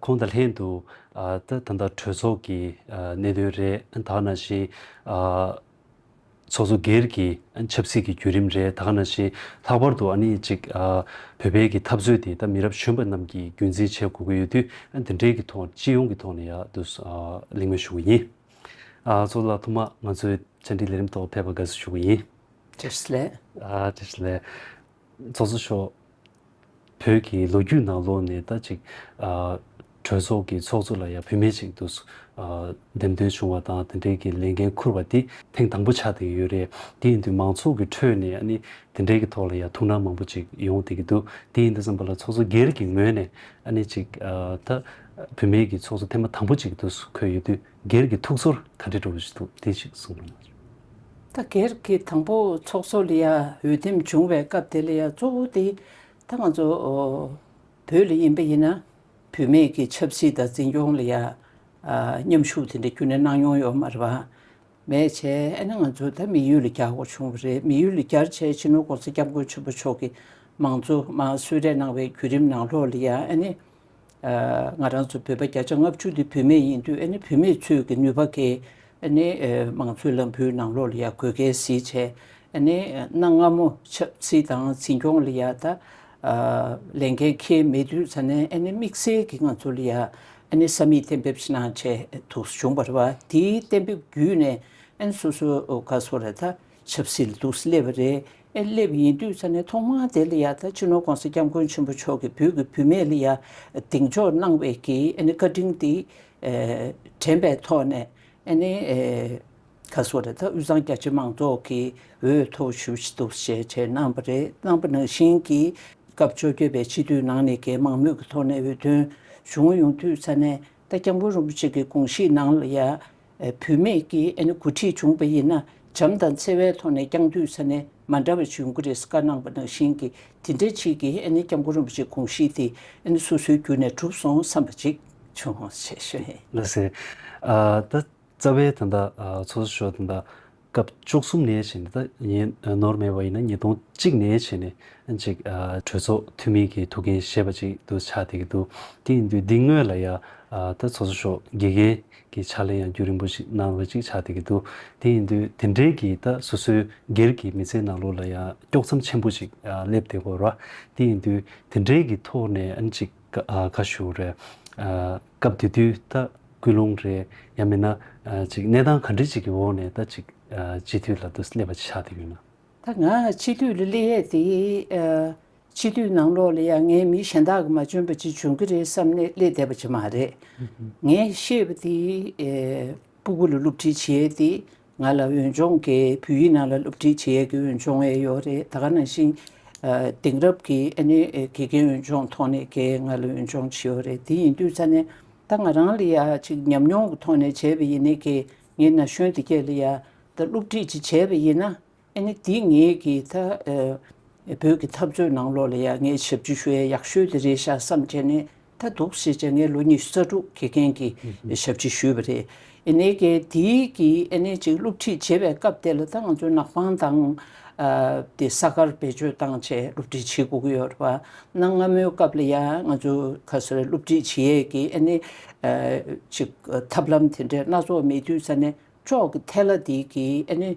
ཁོང་དང་ལྷན་དུ་ད་ལྟ་གྲོས་ཚོགས་ཀྱི་གནད་དོན་རེད་དག་ནང་བཞིན། ཚོགས་གཙོ་སྒེར་གྱི་ཆབ་སྲིད་ཀྱི་བརྒྱུད་རིམ་རེད་དག་ནང་བཞིན་ལྷག་པར་དུ་ཨཱ་ནི་ཅིག་བོད་པའི་གི་འཐབ་རྩོད་དེ་ད་མི་རབས་གཞོན་པ་རྣམས་ཀྱིས་རྒྱུན་འཛིན་བྱེད་དགོས་ཀྱི་ཡོད་དུས་དེ་འབྲེལ་གྱི་ཐོག་སྤྱི་ཡོངས་ཀྱི་ཐོག་ནས་ཡག་དུ་གླེང་མོལ་ཞུ་གི་ཡིན། ཚོགས་ལ་ཐོག་མ་ང་ཚོའི་བཅར་འདྲི་ལས་རིམ་ཐོག་ཕེབས་པར་དགའ་བསུ་ཞུ་གི་ཡིན། བཀྲ་ཤིས་ལེགས། བཀྲ་ཤིས་ལེགས། ཚོགས་གཙོ་མཆོག་བོད་ཀྱི་ལོ་རྒྱུས་ནང་ལོག་ནས་ད་ཅིག་གྲོས་ཚོགས་ཀྱི་ཚོགས་གཙོ་ལ་ཡང་བུད་མེད་ཅིག་འདུག་འདེམས་ཐོན་བྱུང་བ་དང་དེ་འབྲེལ་གྱི་ལས་འགན་འཁུར་བ་དེ་ཐེངས་དང་པོ་ཆགས་བསྡད་ཀྱི་ཡོད་རེད། དེ་ཡིན་དུས་མང་ཚོགས་ཀྱི་ཁྲོད་ནས་ཨ་ནི་དེ་འབྲེལ་གྱི་ཐོག་ལ་ཡང་ཐུགས་སྣང་མང་པོ་ཅིག་ཡོང་བསྡད་ཀྱི་འདུག་དེ་ཡིན་དུས་སམ་བོད་ལ་ཚོགས་གཙོ་སྒེར་གྱི་ངོས་ནས་ཨ་ནི་ཅིག་ད་བུད་མེད་ཀྱི་ཚོགས་གཙོ་ཐེངས་མ་དང་པོ་ཅིག་འདུག་འཁོད་ཡོད་དུས། སྒེར་གྱི་ཐུགས་ཚོར་ག་འདྲས་འགྲོ་བཞིན་འདུག་དེ་ཞིག་གསུང་རོགས་གནང། ད་སྒེར་གྱི་དང་པོ་ཚོགས་གཙོ་ལ་ཡང་འོས་འདེམས་བྱུང་བའི་སྐབས་དེ་ལ་ཡང་གཙོ་བོ་དེ་ད་ང་ཚོ་བོད་ལ་ཡིན་པ་ཡིན་ན་བུད་མེད་ཀྱི་ཆབ་སྲིད་དང་འཛིན་སྐྱོང་ལ་ཡང་མཉམ་ཞུགས་དེ་འདྲ་རྒྱུན་ནས་གནང་མྱོང་ཡོད་མ་རེད་བམ། མེད་བྱས་ཨེ་ན་ང་ཚོ་ད་མི་ཡུལ་ལ་རྒྱ་སྒོར་བྱུང་བ་རེད་མི་ཡུལ་ལ་རྒྱར་བྱས་ཕྱི་ནོར ྋགོང་ས ྋསྐྱབས་མགོན་ཆེན་པོ་མཆོག་གིས་མང་གཙོ་མང་གསོལ་རས་གནང་བའི་བརྒྱུད་རིམ་ནང་ལོགས་ལ་ཡང་ཨེ་ནི། ང་རང་ཚོ་བོད་པ་བརྒྱ་ཆ་ལྔ་བཅུ་དེ་བུད་མེད་ཡིན་དུས་ཨ་ནེ་བུད་མེད་ཚོས་ཀྱི་ནུས་པ་གས་ཨ་ནེ་མང་ཚོས་ལམ་བུའི་ནང་ལོག་ལ་ཡག་དགོས་གལ་གཟིགས་བྱས་ཨ་ནེ་གནའ་སྔ་མོ་ཆབ་སྲིད་དང་འཛིན་སྐྱོང་ལ་ཡག་ད་ལས་འགན་ཁེལ་མེད་དུས་ཚ་ནན་ཨ་ནེ་དམིགས་བསལ་གྱི་ང་ཚོ་ལ་ཡག་ཨ་ནེ་ས་མིག་གཏན་འབེབས་ཕྱི་ནང་བྱས་འདུག་བྱུང་བ་རེད་བ་དེའི་གཏན་འབེབས་བརྒྱུད་ནས་ཨ་ནེ་སོ་སོ་ག་སོ་རེད་ད། ཆབ་སྲིད་ལ་དུག་སླེབས་པ་རེད་ཨེ་སླེབས་ཡིན་དུས་ཚ་ནས་ཐོག་མར་དེ་ལ་ཡ་ད་སྤྱི་ནོར་གོང་ས་སྐྱབས་མགོན་ཆེན་པོ་མཆོག་གི་བུ་གི་བུད་མེད་ལ་ཡ་གདེང་འཇོག་གནང་བས་ཀྱི་ཨེ་ནི་བཀའ་དྲིན་དེ་དྲན་པའི་ཐོག་ནས་ཨེ་ནི་ཁ་སོ་རེ་ད་དབུས་གཙང་རྒྱ་ཆེ་མང་ཚོགས་ཀྱི་འོས་ཐོབ་ཞུ་བཞི་འདུག་ཞེས་བྱས་གནང་བ་རེད་གནང་བ་ནང་བཞིན་གྱི་སྐབས་བཅོ་བརྒྱད་པའི་སྤྱི་འཐུས་ནང་ནས་གེ་མང་མོས་ཀྱི་ཐོག་ནས་འོས་ཐོན་བྱུང་ཡོང་དུས་ཚ་ནས་ད་སྐྱབས་མགོན་རིན་པོ་ཆེ་གི་དགོངས་གཞིས་ནང་ལ་ཡ། བུད་མེད་ཀྱི་འགོ་ཁྲིད་བྱུང་བ་ཡིན་ན་བྱམས་དང་བརྩེ་བའི་ཐོག་ནས་ཀྱང་འདུས་ས་ནས་མ་འདྲ་བ་བྱུང་གི་རེད་བཀའ་གནང་བ་ནང་བཞིན་གྱི་དེ་འདྲ་ཅིག་གི་སྐྱབས་མགོན་རིན་པོ་ཆེ་དགོངས་གཞི་དེ་སོ་སོའི་རྒྱུད་ནས་གྲུབ་སོང་བསམ་པ་ཅིག་བྱུང། ལོས་ཟེར། ད་རྩ་བའི་དེ་འདྲ་ཚོགས་གཙོ་མཆོག་དེ་འདྲ་སྐབས་བཅུ་གསུམ་ནས་བྱས་ནས་ནི་ད་ནོར་མེད་པ་ཡིན་ན་ཉིས་སྟོང་གཅིག་ནས་བྱས་ནས་གཅིག་གྲོས་ཚོགས་འཐུས་མི་གི་ཐུགས་འགན་ཞེས་པ་ཅིག་ཏུ་ཆགས་བསྡད་ཀྱི་འདུག་དེ་ཡིན་དུས་འདི་སྔོན་ལ་ཡང་ད་ཚོགས་གཙོ་མཆོག་དགེ་རྒན་གྱི་ཕྱག་ལས་ཡང་རྒྱུན་རིང་པོ་ཞིག་གནང་བ་ཅིག་ཆགས་བསྡད་ཀྱི་འདུག་དེ་ཡིན་དུས་དེ་འབྲེལ་གྱི་ད་སོ་སོའི་སྒེར་གྱི་མི་ཚེའི་ནང་ལུགས་ལ་ཡང་དཀྱོགས་མཚམས་ཆེན་པོ་ཅིག་སླེབས་བསྡད་དགོས་ར་དེ་ཡིན་དུས་དེ་འབྲེལ་གྱི་ཐོག་ནས་ཅིག། ཁ་ཞུ་རེད། སྐབས་དེ་དུས་ད་སྐུལ་སློང་རེད། ཡང་མིན་ན། གནས་སྟངས་ག་འདྲི་ཅིག་གི་འོག་ནས་ད་ཅིག་སྤྱི་འཐུས་ལ་དུ་སླེབས་པ་ཆགས་བསྡད་ཡོད་ན། ད་ང་སྤྱི་འཐུས་ལ་སླེ་ཡས་དེ། སྤྱི་འཐུས་ནང་ལོག་ལ་ཡང་ངའི་མི་གཞན་དག་གི་མ་འཇོན་པ་ཅིག་འབྱུང་གི་རེད་བསམ་ནས་སླེ་བསྡད་པ་ཅིག་མ་རེད། ངས་ཤེས་པ་དེ། སྤུ་གུ་ལ་བསླུ་བྲིད་བྱེད་ཡས་དེ། ང་ལ་འོས་སྦྱོང་གིས་བོད་ཡིག་ནང་ལ་སློབ་ཁྲིད་བྱེད་ཡས་ཀྱི་འོས་སྦྱོང་འེ་ཡོད་རེད་ད་ག་ནང་བཞིན་དེང་རབས་ཀྱི་ཨེ་ནས་དགེ་རྒན་འོས་སྦྱོང་ཐོག་ནས་ཀྱི་ང་ལ་འོས་སྦྱོང་བྱེད་ཡོད་རེད་དེ་ཡིན་དུས་ཚ་ནས་ད་ང་རང་ལ་ཡ་ཅིག་ཉམས་མྱོང་གི་ཐོག་ནས་བྱས་པ་ཡིན་ནས་ཀྱི་ངའི་ན་གཞོན་དེ་ཀྱ་ལ་ཡ་ད་སློབ་ཁྲིད་ཅིག་བྱས་པ་ཡིན་ན་ཨ་ནི་འདི་ངེད་ཀྱི་ད་བོད་ཀྱི་འཐབ་རྩོད་ནང་ལོགས་ལ་ཡ་ངའི་ཞབས་ཕྱི་ཞུ་ཡ་ཡག་ཤོས་དེ་རེད་ཤག་བསམ་བྱས་ནས་ད་འདུག་ཞེས་བྱས་ངས་ལོ་ཉི་ཤུ་རྩ་དྲུག་དགེ་རྒན་གྱི་ཞབས་ཕྱི་ཞུས་པ་རེད། ཨེ་ནེ་གེ་དེ་གི་ཨེ་ནེ་ཅིག་སློབ་ཁྲིད་བྱེད་པའི་སྐབས་དེ་ལ་ད་ང་ཚོའི་ནག་པང་དང་དེ་ས་གར་བེད་སྤྱོད་བཏང་བྱས་སློབ་ཁྲིད་བྱེད་སྒུག་གི་ཡོད་རེད་བ། གནའ་སྔ་མོའི་སྐབས་ལ་ཡ་ང་ཚོ་ག་སོ་རེ་སློབ་ཁྲིད་བྱེད་ཡས་ཀྱི་ཨེ་ནེ་ཅིག་ཐབས་ལམ་དེ་འདྲའི་སྣ་ཚོགས་མེད་དུས་ས་ནས་ཅོག་གི་ཐལ་ལ་དེ་གི་ཨེ་ནེ་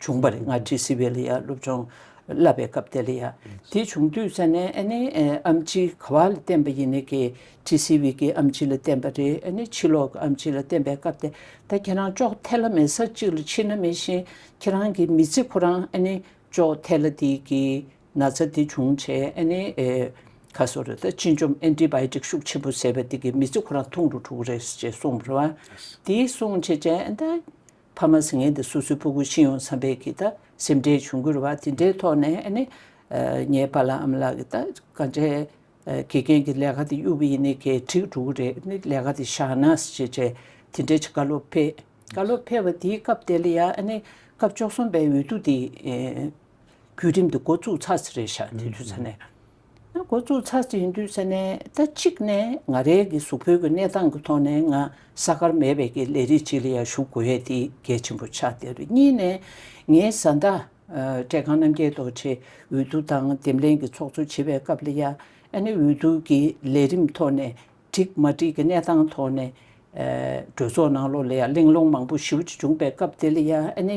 བྱུང་བ་རེད་སྔར་ཀྲི་སི་བྷེ་ལི་ཡ་སློབ་ཆུང་བསླབ་པའི་སྐབས་དེ་ལ་ཡ། དེ་བྱུང་དུས་ས་ནས་ཨ་ནེ་ཨམ་ཆི་ག་བ་ལ་བསྟན་པ་ཡིན་ནི་གི་ཀྲི་སི་བྷེ་ཀི་ཨམ་ཆི་ལ་བསྟན་པ་རེད་ཨ་ནེ་ཕྱི་ལོག་གི་ཨམ་ཆི་ལ་བསྟན་པའི་སྐབས་དེ་ད་ཁྱེད་རང་ཅོག་ཐེ་ལ་མེ་ས་གཅིག་ལ་ཕྱིན་ན་མེད་བཞིན་ཁྱེད་རང་གི་མི་ཚེ་ཁོ་རང་ཨ་ནེ་ཅོག་ཐེ་ལ་དེ་གི་ན་ཚ་དེ་བྱུང་བྱས་ཨ་ནེ་ཁ་སོ་ར་ད་སྤྱི་འཇོམས་ཨན་ཏི་བྷའི་ཏིག་ཤུགས་ཆེན་པོ་བཟས་པ་དེ་གི་མི་ཚེ་ཁོ་རང་ཐུང་རུ་འཁྲུག་རེད་ཟེར་བྱས་གསུངས་པ་རེད་བ། དེ་གསུངས་བྱས་བྱས་ཨན་ད། ཕ་མ་སེང་གེ་འདི་སོ་སོའི་སྤུ་གུ་ཤི་ཡོང་བསམ་པའི་གི་ད་སེམས་ཁྲལ་བྱུང་གུར་བ་དེ་འདྲའི་ཐོག་ནས་ཨ་ནི། ངའི་ཕ་ལ་ཨམ་ལགས་གི་ད་ག་འདྲའི་དགེ་རྒན་གི་ལས་ཀ་དེ་གཡུག་པ་ཡིན་ནི་གས་འགྲིག་འགྲོ་གི་རེད་ནི་ལས་ཀ་དེ་བཞག་ན་ཞེས་བྱས་དེ་འདྲའི་བྱ་བཀའ་སློབ་ཕེབས། བཀའ་སློབ་ཕེབས་པ་དེའི་སྐབས་དེ་ལ་ཡ་ཨ་ནི་སྐབས་བཅོ་གསུམ་པའི་འོས་བསྡུ་དེ། བརྒྱུད་རིམ་དེ་འགོ་བཙུགས་ཚར་ཚར་རེད་བཞག་དེ་དུས་ཚར་ནས། འགོ་བཙུགས་ཚར་ཟིན་དུས་ཟེར་ནས་ད་ཅིག་ནས་ང་རེ་གི་གཟུགས་བོད་ཀྱི་གནས་སྟངས་ཀྱི་ཐོག་ནས་ང་ས་ཁར་མེད་པའི་ཀྱི་ལས་རིགས་ཅིག་ལ་ཡང་ཞུགས་དགོས་ཡས་དེ་གལ་ཆེན་པོ་ཆགས་དེ་རུ་གཉིས་ནས་ངའི་བཟའ་ཟླ་བཀྲས་ཁང་རྣམ་རྒྱལ་རྡོ་རྗེ་འོས་བསྡུ་དང་འདེམས་ལྷན་གྱི་ཚོགས་གཙོ་བྱེད་པའི་སྐབས་ལ་ཡང་ཨ་ནེ་འོས་བསྡུ་ཀྱི་ལས་རིམ་ཐོག་ནས་འགྲིག་མ་འགྲིག་གི་གནས་སྟངས་ཐོག་ནས་གྲོས་ཚོགས་ནང་ལོགས་ལ་ཡང་གླེང་སློང་མང་པོ་ཞིབ་ཅིག་བྱུང་པའི་སྐབས་དེ་ལ་ཡང་ཨ་ནེ།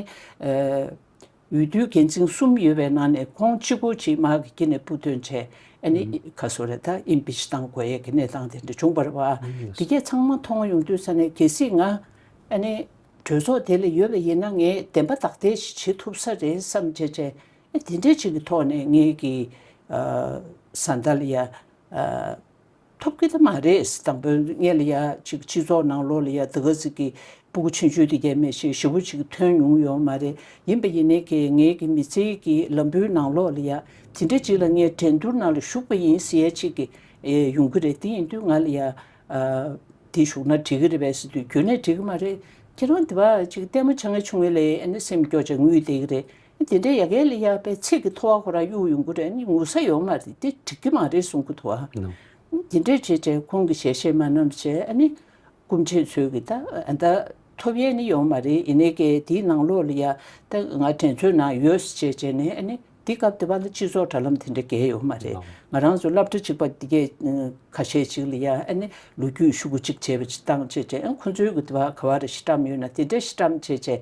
འོས་བསྡུའི་འགན་འཛིན་གསུམ་ཡོད་པའི་ནང་ནས་ཁོང་གཅིག་པུ་ཆེད་མངགས་ཀྱིས་ནས་འབུད་བཏོན་བྱས་ཨ་ནི་ཁ་སོ་རེད་ད Impeach བཏང་དགོས་ཡས་ཀྱི་གནས་སྟངས་དེ་འདྲ་བྱུང་བར་བ་དེ་གས་ཚང་མ་མཐོང་ཡོང་དུས་ས་ནས་གལ་སྲིད་ང་ཨ་ནི་གྲོས་ཚོགས་དེ་ལ་ཡོད་པ་ཡིན་ན་ངས་བདེན་པ་དག་དེ་ཞིག་བྱེད་ཐུབ་ས་རེད་བསམ་བྱས་བྱས་ཨ་དེ་འདྲས་ཅིག་གི་ཐོག་ནས་ངས་ཀྱི་བཟའ་ཟླ་ལ་ཡ། ཐོབ་གི་ད་མ་རེད་དང་པོ་ངས་ལ་ཡ་གཅིག་སྤྱི་ཚོགས་ནང་ལོག་ལ་ཡ་དེ་ག་ཟིག་གི་སྤུ་གུ་ཆུན་ཆུན་དེ་རྒྱ་མི་ཞིག་ཞི་བོ་ཅིག་ཐོན་མྱོང་ཡོད་མ་རེད་ཡིན་པ་ཡིན་ནའི་ཁེ་ངེ་གི་མི་ཚེ་གི་ལམ་བུའི་ནང་ལོག་ལ་ཡ་དེ་འདྲ་ཅིག་ལ་ངས་འགྲན་བསྡུར་ནང་ལ་ཞུགས་པ་ཡིན་ཟེར་ཡ་ཅིག་གི་ཡོང་གི་རེད་དེ་ཡིན་དུས་ང་ལ་ཡ་དེ་ཞུགས་ན་འགྲིག་གི་རེད་བས་ཟེར་དུས་ཁྱོད་ནས་འགྲིག་གི་མ་རེད་ཁྱེད་རང་དེ་བ་ཅིག་ལྟད་མོ་བྱ་ངས་ཆུང་ངུ་ལས་ཨེ་ན་སེམས་སྐྱོ་ཅིག་ངུས་བསྡད་གི་རེད་དེ་འདྲའི་ཡ་གལ་ལས་ཡག་པའི་ཚིག་གི་ཐོ་བ་ཁོ་རང་གཡུག་ཡོང་གི་རེད་ངུ་ས་ཡོད་མ་རེད་དེ་འགྲིག་གི་མ་རེད་གསུང་གི་འདུག་དེ་འདྲའི་བྱས་བྱས་ཁོང་གི་ཞལ་ཤེས་མ་རྣམས་བྱས་ཨ་ནི་སྐུ་མཁྲེགས་ཚོས་གི་ད་ཨ་ད་ཐོབ་ཡས་ནི་ཡོང་མ་རེད་ཡིན་ནའི་ཀའི་དེའི་ནང་ལོག་ལ་ཡ་ད་ང་དྲན་ཚོད་ན་ཡོད་ཟེར་བྱས་བྱས་ནས་ཨ་ནི་དེ་སྐབས་དེ་བ་ལ་སྤྱི་ཚོགས་དྲ་ལམ་དེ་འདྲ་བརྒལ་ཡོད་མ་རེད་ང་རང་ཚོ་བསླབ་གྲ་གཅིག་པ་འདི་གས་ཁ་ཤས་གཅིག་ལ་ཡ་ཨ་ནི་ལོ་རྒྱུས་ཤུག་གུ་གཅིག་བྱས་བྱས་སྟངས་བྱས་བྱས་ཨ་ཁོང་ཚོའི་གི་དེ་བ་ག་བ་རེ་ཤི་བཀྲམ་ཡོད་ན་དེ་འདྲའི་ཤི་བཀྲམ་བྱས་བྱས་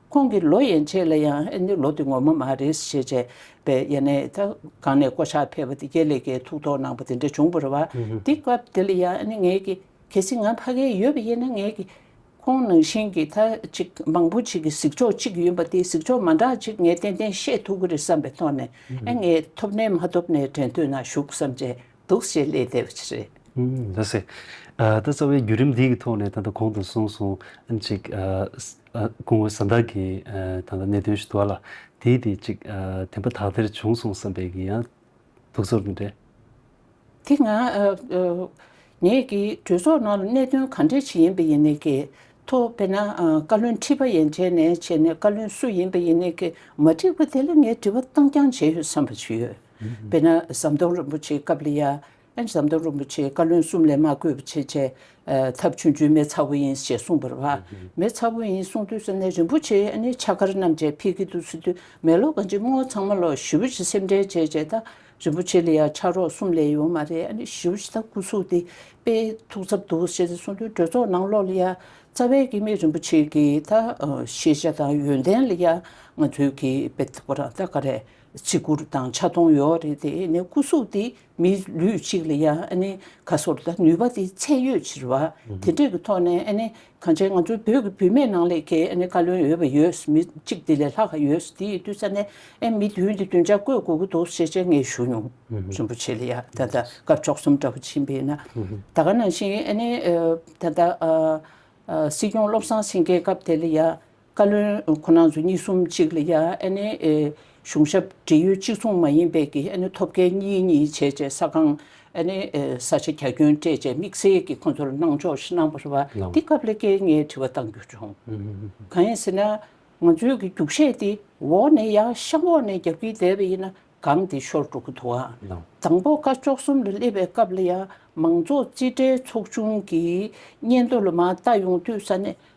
ཁོང་གིས་ལོ་ཡན་ཆད་ལ་ཡང་ཨེ་ནི་ལོ་འདི་ངོ་མ་མ་རེད་ཞེས་བྱས་པས་ཡེ་ནས་ད་གང་ནས་བསྐོ་བཞག་ཕེབས་པ་འདི་ཀྱེ་ལེ་ཀྱེ་ཐུགས་དོགས་གནང་པ་དེ་འདྲ་བྱུང་བར་བ་འདི་སྐབས་དེ་ལ་ཡང་ཨེ་ནི་ངེད་ཀྱིས་གལ་སྲིད་ང་ཕ་གས་ཡོད་པ་ཡིན་ན་ངེད་ཀྱིས་ཁོང་ནང་བཞིན་གྱི་ད་ཅིག་མང་པོ་ཅིག་གི་གཟིགས་ཕྱོགས་གཅིག་ཡིན་པ་དེ་གཟིགས་ཕྱོགས་མ་འདྲ་ཅིག་ངས་ཏན་ཏན་བཤད་ཐུབ་ཀྱི་རེད་བསམ་པའི་ཐོག་ནས་ཨེ་ངས་ཐོབ་ནས་མ་ཐོབ་ནས་དྲན་ཐོས་ན་བཞུགས་བསམ་བྱས། འདུག་བྱེད་ཀླད་བདེ་བ་ཅི་རེད། འདུག་སེ། ད་རྩ་བའི་བརྒྱུད་རིམ་འདིའི་ཐོག་ནས་ད་ལྟ་གོང་དུ་གསུངས་སོང་ཅིག། གོང་བོད་ས་བདག་གི་ད་ལྟ་གནད་དོན་ཞིག་འདུག་ལ། དེའི་དེ་ཅིག་དེ་འབའ་དག་དེར་བྱུང་སོང་བསམ་པའི་གི་ཡང་འདུག་ཚོར་འདུག་འདྲེ། དེ་ང། ངས་གི་གྲོས་ཚོགས་ནང་ལ་གནད་དོན་ག་འདྲས་ཆེ་ཡིན་པ་ཡིན་ནས་གི་ཐོ་བས་ན་བཀའ་བློན་ཁྲི་པ་ཡན་བྱས་ནས་བྱས་ནས་བཀའ་བློན་སུ་ཡིན་པ་ཡིན་ནས་གི་མ་འགྲིག་པ་དེ་ལ་ངས་དྲི་བ་བཏང་རྐྱང་བྱས་ཡོད་བསམ་པ་ཅིག་ཡོད། དཔེར་ན་ཟམ་གདོང་རིན་པོ་ཆེའི་སྐབས་ལ་ཡང། ཟམ་གདོང་རིན་པོ་ཆེའི་བཀའ་བློན་གསུམ་ལས་མ་བསྐོས་པ་ཆེས་ཆེ། ཐབས་ཆུང་ཆུང་མེད་ཚ་བོ་ཡིན་ཞེས་གསུངས་པར། མེད་ཚ་བོ་ཡིན་གསུངས་དུས་སུ་ནི་རིན་པོ་ཆེ་ཡང་ནི་ཕྱག་མཁར་རྣམས་ཅན་ཕིག་གི་དུ་སུ་དུས་མེ་ལོ་གང་ཅིག་སྔོ་ཚང་མ་ལོ་བཞི་བོ་ཆེ་སེམས་ཁྲལ་བྱས་བྱས་ད་རིན་པོ་ཆེ་ལ་ཡང་ཕྱག་རོགས་གསུམ་ལས་ཡོད་མ་རེད་བཞི་བོ་ཆེ་ད་སྐུ་གཟུགས་དེ་དཔེ་ཐུགས་འཚབ་འདུག་ཞེས་གསུངས་དུས་གྲོས་ཚོགས་ནང་ལོགས་ལ་ཡང་རྩ་བའི་དགེ་མི་རིན་པོ་ཆེ་གིས་ད་ཤེས་བྱ་དང་ཡོན་ཏན་ལ་ཡང་ང་ཚོའི་གིས་དཔེ་ཐུགས་པ་རང་ད་ག་རེད། བརྩི་བཀུར་དང་ཆ་མཐོང་ཡོད་རེད་དེ་ནི་སྐུ་གཟུགས་དེ་མི་ལུས་གཅིག་ལ་ཡང་ག་སོར་ལྟ་ནུས་པ་དེ་ཚད་ཡོད་ཕྱིར་བ་དེ་འདྲས་ཀྱི་ཐོག་ནས་གང་བྱས་ང་ཚོ་བོད་ཀྱི་བུད་མེད་ནང་ལས་ཀའི་བཀའ་བློན་ཡོད་པ་ཡོད་མི་གཅིག་དེ་ལས་ལྷག་ག་ཡོད་དེའི་བསྟུད་ས་ནས་མི་བདུན་དེ་བདུན་ཆ་བཀོད་དགོས་ཀྱི་འདུག་ཞེས་དཔྱད་ངེས་ཞུ་མྱོང་རིན་པོ་ཆེ་ལ་ཡང་ད་ལྟ་དཀར་ཕྱོགས་གསུམ་འདྲ་བོ་ཕྱིན་པས་ན་ད་ག་ནང་བཞིན་ད་ལྟ་སྲིད་སྐྱོང་བློ་བཟང་སེང་གེའི་སྐབས་དེ་ལ་ཡང་བཀའ་བློན་ཁོ་ནའང་ཚོ་གཉིས་གསུམ་གཅིག་ལ་ཡ་ཨེ་ནའི་གཞུང་ཞབས་འབྲེལ་ཡོད་གཅིག་མཚུངས་མ་ཡིན་པས་ཀྱི་ཨེ་ནའི་ཐོབ་སྐལ་གཉིས་གཉིས་བྱས་བྱས་ས་ཁང་ཨེ་ནའི་ས་ཆ་གྱ་གྱོན་སྤྲད་བྱས་དམིགས་བསལ་གྱི་ཁོ་ཚོར་གནང་ཕྱོགས་ཤིག་གནང་བ་རེད་བ་དེ་སྐབས་ལས་ཀའི་ངའི་དྲི་བ་གཏང་རྒྱུ་བྱུང། གང་ཡིན་ཟེར་ན། ང་ཚོའི་གི་རྒྱུགས་བཤད་དེ་འོག་ནས་ཡ་ཤམ་འོག་ནས་རྒྱབ་ཀྱི་བསྡད་པ་ཡིན་ན་གང་དེ་ཤོར་འགྲོ་གི་འདུག་བ། དང་པོ་བཀའ་ཅོག་གསུམ་ལ་སླེབས་པའི་སྐབས་ལ་ཡ་མང་ཚོགས་རྩིས་ཁྲའི་ཚོགས་ཆུང་གི་སྙན་ཐོ་ལ་མ་ལྟ་ཡོང་དུས་ས་གནས་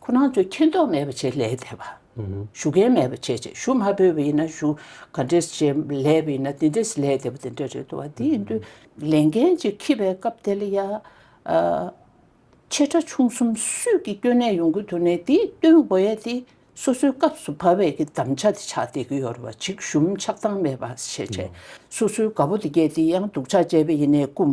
ཁོ་རང་ཚོས་མཁྱེན་རྟོགས་མེད་པ་བྱེད་ལས་འདས་པ། ཞུ་མཁན་མེད་པ་བྱེད་ཅེས་ཞུ་མ་ཕོད་པ་ཡིན་ན་ཞུ་ག་འདྲས་བྱེད་ལས་པ་ཡིན་ན་དེ་འདྲས་ལས་འདས་པ་དེ་འདྲ་རེད་འདུག་བ་དེ་ཡིན་དུས་ལས་འགན་གཅིག་འཁྱིལ་པའི་སྐབས་དེ་ལ་ཡ། ཆེ་ཕྲ་ཆུང་གསུམ་སུས་ཀྱིས་སྐྱོན་གནས་ཡོང་གི་འདུག་ནས་དེའི་སྟོན་དགོས་ཡས་དེ་སོ་སོའི་སྐབས་སུ་བབ་བས་ཀྱི་དམ་བཅའ་དེ་ཆགས་བསྡད་ཀྱི་ཡོད་རེད་བ་ཅིག་ཞུམ་ཆགས་སྟངས་མེད་པ་བྱེད་ཅེས་སོ་སོའི་དགའ་པོ་དེ་བསྐྱེད་དེ་ཡང་སྡུག་ཆགས་བཅས་པ་ཡིན་ནས་བཀུམ་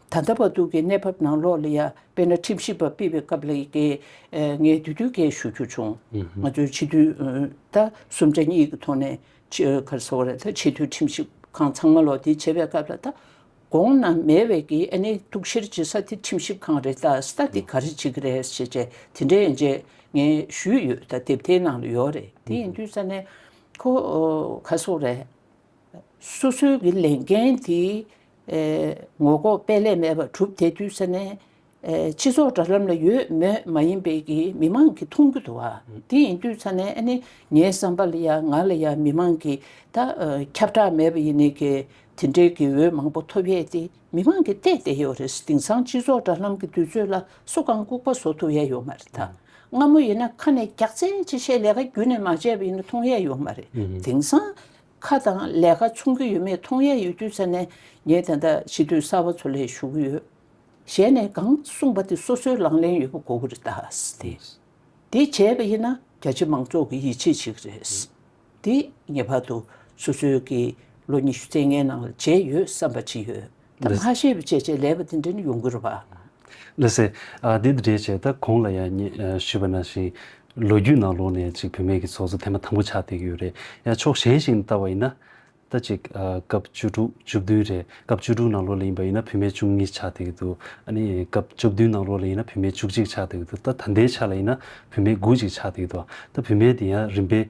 ད་ལྟ་བར་དུ་གི་གནས་བབ་ནང་ལོགས་ལ་ཡང་དཔེར་ན་ཁྲིམས་ཞིབ་པ་སྤེལ་བའི་སྐབས་ལ་ཡི་གེ་ངས་འདི་དུས་འགལ་ཞུ་རྒྱུ་བྱུང། ང་ཚོས་ཕྱི་དུས་ད་སུམ་ཆ་གཉིས་ཀྱི་ཐོག་ནས་ཕྱིར་ཟེར་བ་རེད་ད་ཕྱི་དུས་ཁྲིམས་ཞིབ་ཁང་ཚང་མ་ལོགས་འདི་བྱེད་པའི་སྐབས་ལ་ད་དགོངས་ན་མེད་བས་ཀྱི་ཨ་ནི་གཏུག་བཤེར་བྱེད་ས་དེ་ཁྲིམས་ཞིབ་ཁང་རེད་ད་ས་འདི་ག་རེ་བྱེད་ཀྱི་རེད་ཞེས་བྱས་དེ་འདྲའི་ཡན་ཆད་ངས་ཞུས་ཡོད་ད་དེབ་དེའི་ནང་ལ་ཡོད་རེད་དེ་ཡིན་དུས་ས་གནས་ཁོ་ག་སོགས་རེད། སོ་སོའི་གི་ལས་འགན་དེ་ངོ་ལྐོག་དཔེ་ལས་མེད་པར་གྲུབ་དེ་དུས་ས་གནས་སྤྱི་ཚོགས་དྲ་ལམ་ལ་ཡོད་མོད་མ་ཡིན་པའི་གི་མི་མང་གི་མཐོང་རྒྱུ་དུ་བ་དེ་ཡིན་དུས་ས་གནས་ཨ་ནི་ངའི་བསམ་པ་ལ་ཡང་ང་ལ་ཡང་མི་མང་གི་ད་ཁྱབ་བསྒྲགས་མེད་པ་ཡིན་ནི་གི་དེ་འདྲའི་གི་འོས་མང་པོ་ཐོབ་ཡས་དེ་མི་མང་གི་བལྟས་བསྡད་ཡོད་རེད་དེང་སང་སྤྱི་ཚོགས་དྲ་ལམ་གི་དུས་ཚོད་ལ་སུ་གང་ལྐུག་པ་བཟོ་ཐུབ་ཡས་ཡོད་མ་རེད་ད་སྔ་མོ་ཡིན་ན་ཁ་ནས་རྒྱག་རྩེ་ཅི་བྱས་ལས་ཀ་རྒྱུན་ནས་མ་བྱས་པ་ཡིན་ན་མཐོང་ཡས་ཡོད་མ་རེད་དེང་སང། ཁ་དང་ལས་ཀ་ཆུང་གི་ཡོད་མེད་མཐོང་ཡས་ཡོད་རྒྱུ་ཆ་ནས་ངས་དེ་འདྲ་ཞི་དུལ་གསར་བ་ཚོ་ལས་ཞུ་གི་ཡོད། གཞན་ནས་གང་གསུངས་པ་དེ་སོ་སོའི་ལང་ལེན་ཡོད་པ་གོ་གི་རེད་ད། དེ་བྱས་པ་ཡིན་ན་རྒྱ་ཆེ་མང་ཚོགས་ཀྱི་ཡིད་ཆེས་ཞིག་རེད། དེ་ངེས་པར་དུ་སོ་སོའི་གི་ལོ་ཉི་ཤུ་ཚན་ལྔའི་ནང་ལ་བྱས་ཡོད་བསམ་པ་བྱིན་ཡོད། ད་མ་ཤེས་པའི་བྱས་བྱས་ལས་པ་དེ་འདྲས་ནི་ཡོང་གི་རེད་བ། ལི་སི། དེ་འདྲས་བྱས་ད་གོང་ལ་ཡང་ཞུས་པ་ནང་བཞིན། ལོ་རྒྱུས་ནང་ལོག་ནས་ཅིག་བུད་མེད་ཀྱི་ཚོགས་གཙོ་དེ་མ་དང་པོ་ཆགས་བསྡད་ཀྱི་ཡོད་རེད་ཡང་ཕྱོགས་གཞན་ཞིག་ནས་བལྟ་བ་ཡིན་ན། ད་ཅིག་སྐབས་བཅུ་དྲུག་བཅུ་བདུན་རེད་སྐབས་བཅུ་དྲུག་ནང་ལོག་ལ་ཡིན་པ་ཡིན་ན་བུད་མེད་བཅུ་གཉིས་ཆགས་བསྡད་ཀྱི་འདུག་ཨ་ནི་སྐབས་བཅུ་བདུན་ནང་ལོག་ལ་ཡིན་ན་བུད་མེད་བཅུ་གཅིག་ཆགས་བསྡད་ཀྱི་འདུག་ད་ད་ལྟའི་ཆ་ལ་ཡིན་ན་བུད་མེད་དགུ་ཅིག་ཆགས་བསྡད་ཀྱི་འདུག་ད་བུད་མེད་དེ་ཡང་རིམ་པས་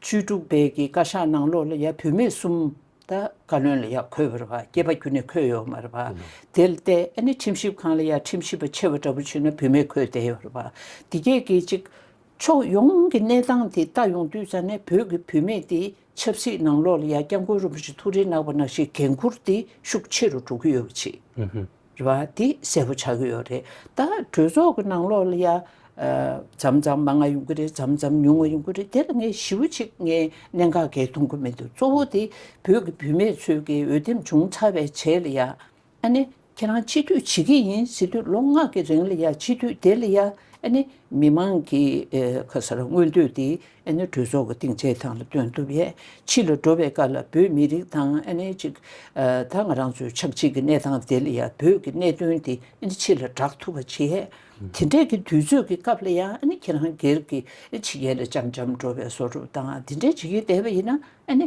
བཅུ་དྲུག་པའི་གི་བཀའ་ཤག་ནང་ལོགས་ལ་ཡ་བུད་མེད་གསུམ་ད་བཀའ་བློན་ལ་ཡ་འཁོད་ཡོད་རེད་བ་སྐྱེས་པ་རྒྱུ་ནས་འཁོད་ཡོད་མ་རེད་བ་དེ་ལྟས་ཨ་ནི་ཁྲིམས་ཞིབ་ཁང་ལ་ཡ་ཁྲིམས་ཞིབ་པ་ཆེ་བ་འདྲ་པོ་བྱུས་ན་བུད་མེད་འཁོད་བསྡད་ཡོད་རེད་བ་དེ་སྐད་གིས་ཅིག་ཕྱོགས་ཡོངས་གི་གནས་སྟངས་དེ་ལྟ་ཡོང་དུས་ས་གནས་བོད་གི་བུད་མེད་དེ་ཆབ་སྲིད་ནང་ལོགས་ལ་ཡ་སྐྱབས་མགོན་རིན་པོ་ཆེ་ཐུགས་རེ་གནག་པ་ནག་ཞིག་འགན་འཁུར་དེ་ཤུགས་ཆེ་རུ་འགྲོ་གི་ཡོད་བ་ཆེ། རེད་བ་འདི་གསལ་པོ་ཆགས་ཀྱི་ཡོད་རེད་ད་གྲོས་ཚོགས་ཀྱི་ནང་ལོགས་ལ་ཡ། ཇམ་ཇམ་མ་ང་ཡོང་གི་རེད་ཇམ་ཇམ་ཉུང་ང་ཡོང་གི་རེད་དེ་ལ་ངས་ཞི་བོ་ཅིག་ངས་གནད་འགག་གེགས་མཐོང་གི་མི་འདུག་གཙོ་བོ་དེ་བོད་ཀྱི་བུད་མེད་ཚོས་ཀྱི་འོས་འདེམས་བྱུང་ཚར་བའི་རྗེས་ལ་ཡ། ཨ་ནི་ཁྱེད་རང་སྤྱི་འཐུས་བྱེད་ཀྱི་ཡིན་ཟེར་དུས་ལོ་ལྔ་གི་རིང་ལ་ཡ་སྤྱི་འཐུས་དེ་ལ་ཡ། ཨ་ནི་མི་མང་གི་ཁ་ས་ར་མངོན་འདོད་དེ། ཨ་ནེ་གྲོས་ཚོགས་ཀྱི་སྟེང་བྱེད་སྟངས་ལ་བསྟུན་ཐུབ་ཡས་ཕྱི་ལ་འགྲོ་བའི་སྐབས་ལ་བོད་མི་རིགས་དང་ཨ་ནེ་གཅིག་ད་ང་རང་ཚོའི་ཆབས་ཅིག་གི་གནས་སྟངས་དེ་ལ་ཡང་བོད་ཀྱི་གནད་དོན་དེ་ཨ་ནེ་ཕྱི་ལ་བསྒྲགས་ཐུབ་པ་བྱས། དེ་འདྲས་ཀྱི་དུས་ཚོད་ཀྱི་སྐབས་ལ་ཡང་ཨ་ནེ་ཁྱེད་རང་སྒེར་གྱི་ཕྱི་རྒྱལ་ལ་ལྕམ་ལྕམ་འགྲོ་བའི་སོ་རུབ་དང་དེ་འདྲས་བྱེད་ཀྱི་བསྡད་པ་ཡིན་ན་ཨ་ནེ།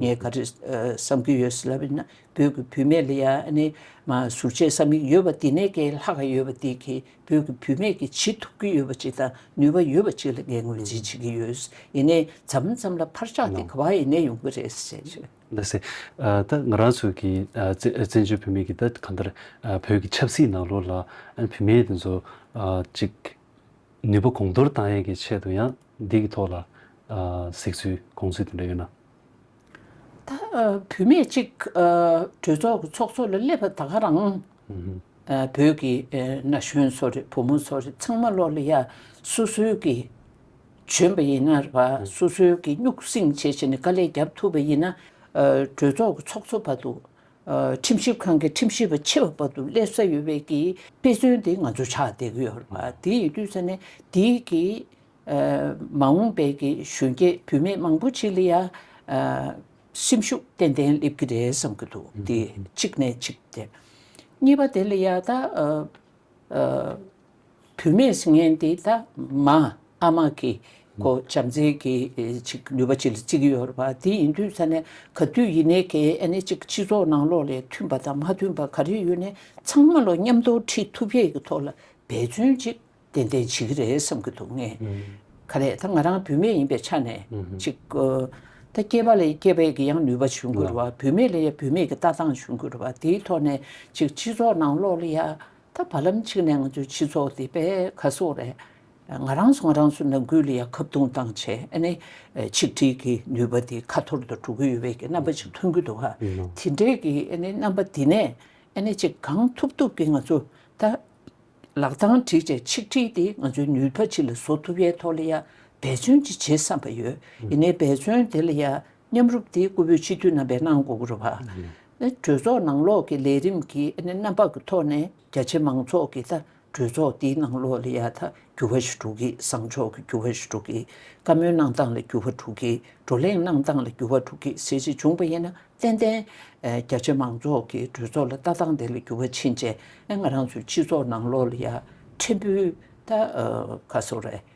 ངས་ག་རེ་བསམ་གྱི་ཡོད་ལབ་ན་བོད་ཀྱི་བུད་མེད་ལ་ཡ་ནི་མ་ཟུར་བྱེད་ས་མིག་ཡོད་པ་འདི་ནས་ཀྱི་ལྷག་ག་ཡོད་པ་འདི་གི་བོད་ཀྱི་བུད་མེད་ཀྱི་བྱེད་ཐུབ་གྱི་ཡོད་པ་ཅིག་དང་ནུས་པ་ཡོད་པ་ཅིག་ལ་ངས་ངོས་འཛིན་བྱེད་ཀྱི་ཡོད་ཡིན་ནའི་འཛམ་གླིང་ཙམ་ལ་འཕར་ཆག་དེ་ག་བ་ཡིན་ནའི་ཡོང་གི་རེད་ཟེར་བྱས་ཡོད། ལ་ཟེར། ད་ང་རང་ཚོ་གི་བཙན་བྱོལ་བུད་མེད་ཀྱི་ད་གང་ལྟར་བོད་ཀྱི་ཆབ་སྲིད་ནང་ལོགས་ལ་བུད་མེད་དེ་ཚོ་ཅིག་ནུས་པ་གོང་མཐོར་གཏང་ཡས་ཀྱི་ཆེད་དུ་ཡང་འདི་ཀྱི་ཐོག་ལ་གཟིགས་ཚུལ་དགོངས་ཚུལ་དེ་འདྲ་ཡོད་ན། ད་བུད་མེད་གཅིག་གྲོས་ཚོགས་ཀྱི་ཚོགས་གཙོ་ལ་སླེབས་པ་ད་ག་རང། བོད་ཀྱི་ན་གཞོན་ཚོ་རེད་བུ་མོ་ཚོ་རེད་ཚང་མ་བློ་ལ་ཡ་སུ་སུའི་གི་བྱོན་པ་ཡིན་ན་ར་སུ་སུའི་གི་སྙུག་སེང་བྱེད་བཞིན་ནས་དཀའ་ལས་རྒྱབ་ཐུབ་པ་ཡིན་ན་གྲོས་ཚོགས་ཀྱི་ཚོགས་གཙོ་བར་དུ་ཁྲིམས་ཞིབ་ཁང་གི་ཁྲིམས་ཞིབ་པ་ཆེ་བ་བར་དུ་སླེབས་ས་ཡོད་པའི་གི་དཔེ་མཚོན་དེ་ང་ཚོ་ཆགས་བསྡད་ཀྱི་ཡོད་ལ་དེ་ཡི་དུས་ས་ནས་དེ་གི་མ་འོངས་པའི་གི་གཞོན་སྐྱེས་བུད་མེད་མང་པོ་ཅིག་ལ་ཡང་སེམས་ཤུགས་ཏན་ཏན་སླེབས་ཀྱི་རེད་བསམ་གྱི་འདུག་དེ་གཅིག་ནས་གཅིག་དེ། གཉིས་པ་དེ་ལ་ཡང་ད། བུད་མེད་སྲིན་ངན་དེ་དག་མ་ཨ་མ་གི་གོ་བྱམས་བརྩེའི་གི་ཅིག་ནུས་པ་ཅིག་ལ་གཅིག་ཡོད་པ་དེ་ཡིན་དུས་ས་ནས་ག་དུས་ཡིན་ནའི་གེ་ཨེ་ནས་ཅིག་སྤྱི་ཚོགས་ནང་ལོག་ལས་མཐུན་པ་དང་མ་མཐུན་པ་ག་རེ་ཡོད་ནས་ཚང་མ་ལོ་མཉམ་དོར་ཁྲིད་ཐུབ་ཡས་གི་ཐོག་ལ་འབད་བརྩོན་ཅིག་ཏན་ཏན་བྱེད་གི་རེད་བསམ་གི་འདུག་ངས་ག་ལས་ད་ང་རང་བུད་མེད་ཡིན་པའི་ཆ་ནས་ཅིག་ད་སྐྱེས་པ་ལས་སྐྱེས་པའི་གི་ཡང་ནུས་པ་བྱུང་གི་རུ་བ་བུད་མེད་ལས་ཡ་བུད་མེད་གི་ལྟ་སྟངས་བྱུང་གི་རུ་བ་དེའི་ཐོག་ནས་ཅིག་སྤྱི་ཚོགས་ནང་ལོག་ལ་ཡ་ད་བར་ལམ་གཅིག་ནས་ང་ཚོའི་སྤྱི་ཚོགས་འདི་པད་ཁ་སོགས་ལས་ང་རང་ཚོ་ང་རང་ཚོའི་ནང་ཁུལ་ལ་ཡང་ཁབ་སྟོང་བཏང་ཆེ་ཨ་ནི་ཆིག་སྒྲིལ་གྱི་ནུས་པ་དེ་ཁ་འཐོར་དུ་འགྲོ་གི་ཡོད་པའི་གྱི་རྣམ་པ་ཅིག་མཐོང་གི་འདུག་ཧ་དེ་འདྲའི་གྱི་ཨ་ནི་རྣམ་པ་འདི་ནས་ཨ་ནི་ཅིག་གང་ཐུབ་ཐུབ་གྱི་ང་ཚོ་ད་ལག་གདང་སྒྲིག་ཆེ་ཆིག་སྒྲིལ་དེ་ང་ཚོའི་ནུས་པ་ཅིག་ལ་བཟོ་ཐུབ་པའི་ཐོག་ལ་ཡང་འབད་བརྩོན་ཅིག་བྱེད་བསམ་པ་ཡོད་ཨི་ནི་འབད་བརྩོན་དེ་ལ་ཡང་མཉམ་རུབ་དེ་སྐུ་བོད་སྤྱི་འཐུས་རྣམ་པས་གནང་འགོ་བར་བ། གྲོས་ཚོགས་ནང་ལོགས་ཀྱི་ལས་རིམ་གྱི་རྣམ་པ་གི་ཐོག་ནས་རྒྱ་ཆེ་མང་ཚོགས་ཀྱི་ད་གྲོས་ཚོགས་འདིའི་ནང་ལོགས་ལ་ཡ་ད་འགྱུར་བ་ཞིག་འགྲོ་གི་བཟང་ཕྱོགས་ཀྱི་འགྱུར་བ་ཞིག་འགྲོ་གི་བཀའ་མོལ་གནང་སྟངས་ལ་འགྱུར་བ་འགྲོ་གི་བགྲོ་གླེང་གནང་སྟངས་ལ་འགྱུར་བ་འགྲོ་གི་ཟེར་ཞིག་བྱུང་བ་ཡིན་ན་ཏན་ཏན་རྒྱ་ཆེ་མང་ཚོགས་ཀྱི་གྲོས་ཚོགས་ལ་ལྟ་སྟངས་དེ་ལ་འགྱུར་བ་ཕྱིན་རྗེས་ང་རང་ཚོའི་སྤྱི་ཚོགས་ནང་ལོགས་ལ་ཡ་ཕྲན་བུ་ད་ག་སོ་རེད།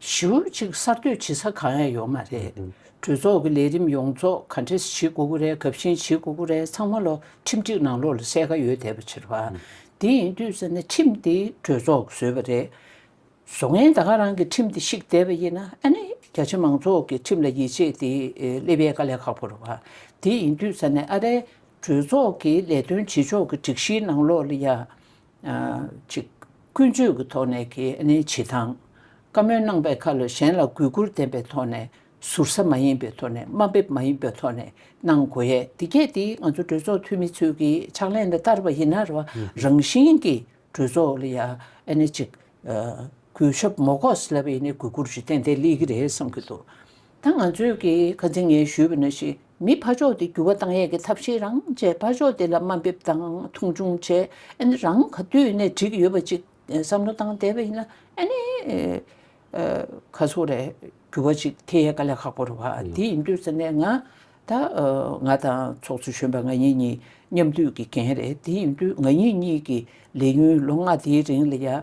ཞེ་འོད་ཅིག་གསར་གཏོད་བྱེད་ས་གང་ཡང་ཡོད་མ་རེད། གྲོས་ཚོགས་ཀྱི་ལས་རིམ་ཡོངས་རྫོགས་ག་འདྲེ་བྱེད་དགོས་ཀྱི་རེད་ག་བཞིན་བྱེད་དགོས་ཀྱི་རེད་ཚང་མ་ལོ་ཁྲིམས་སྒྲིག་ནང་ལོགས་ལ་གསལ་ཁ་ཡོད་བསྡད་པ་ཕྱིར་བ། དེ་ཡིན་དུས་ཟེར་ན་ཁྲིམས་དེ་གྲོས་ཚོགས་ཀྱི་བཟོས་པ་རེད། བཟོ་ངན་ད་ག་རང་གི་ཁྲིམས་དེ་བཤིག་བསྡད་པ་ཡིན་ན་ཨ་ནི་རྒྱ་ཆེ་མང་ཚོགས་ཀྱི་ཁྲིམས་ལ་ཡིད་ཆེས་དེ་སླེབས་ཡས་ག་ལས་ཁག་པོ་རེད་བ། དེ་ཡིན་དུས་ཟེར་ན་ཨ་རའི་གྲོས་ཚོགས་ཀྱི་ལས་དོན་བྱེད་ཕྱོགས་ཀྱི་སྒྲིག་གཞིའི་ནང་ལོགས་ལ་ཡང། གཅིག། ཀུན་སྤྱོད་ཀྱི་ཐོག་ནས་ཀྱི་ནི་བྱེད་སྟངས། བཀའ་མོལ་གནང་པའི་ཁ་ལོ་གཞན་ལ་གུས་བཀུར་ལྡན་པའི་ཐོག་ནས་ཟུར་ཟ་མ་ཡིན་པའི་ཐོག་ནས་དམའ་འབེབས་མ་ཡིན་པའི་ཐོག་ནས་གནང་དགོས་ཡས་འདི་བརྒྱད་འདི་ང་ཚོ་གྲོས་ཚོགས་འཐུས་མི་ཚོས་ཀྱི་ཕྱག་ལེན་ལ་བསྟར་བ་ཡིན་ན་རེ་བ་རང་བཞིན་གྱི་གྲོས་ཚོགས་ལ་ཡ་ཨ་ནི་གཅིག། གུས་ཞབས་མོ་ཀོས་ལ་ཡི་ནི་གུས་བཀུར་ཞུ་ཏན་དེ་ལེགས་ཀྱི་རེད་བསམ་གྱི་འདུག། ད་ང་ཚོས་ཀྱིས་ག་ཚིག་ངས་ཞུས་པ་ན་ཞིག་མི་ཕ་ཕྱོགས་ཏེ་འགྱུར་བ་བཏང་ཡས་ཀྱི་ཐབས་ཤེས་རང་བཅས་ཕ་ཕྱོགས་ཏེ་ལ་དམའ་འབེབས་དང་མཐོང་ཆུང་བྱས་ཨེ་ནི་རང་ག་དུས་ནས་བྲིས་ཀྱི་ཡོད་པ་ཅིག་བསམ་བློ་བཏང་བསྡད་པ་ཡིན་ན་ཨེ་ནི། ག་ཚོགས་རེད་འགྱུར་བ་ཅིག་ཐེ་ཡས་ཀ་ལས་ཁག་པོ་རེད་བ་དེ་ཡིན་དུས་ཟེར་ནས་ང་ད་ང་དང་ཚོགས་གཙོ་གཞོན་པ་ང་ཡིན་གཉིས་མཉམ་འདུས་ཀྱི་འགན་རེད་དེ་ཡིན་དུས་ང་ཡིན་གཉིས་ཀྱི་ལས་ཡུན་ལོ་ལྔ་དེའི་རིང་ལ་ཡ།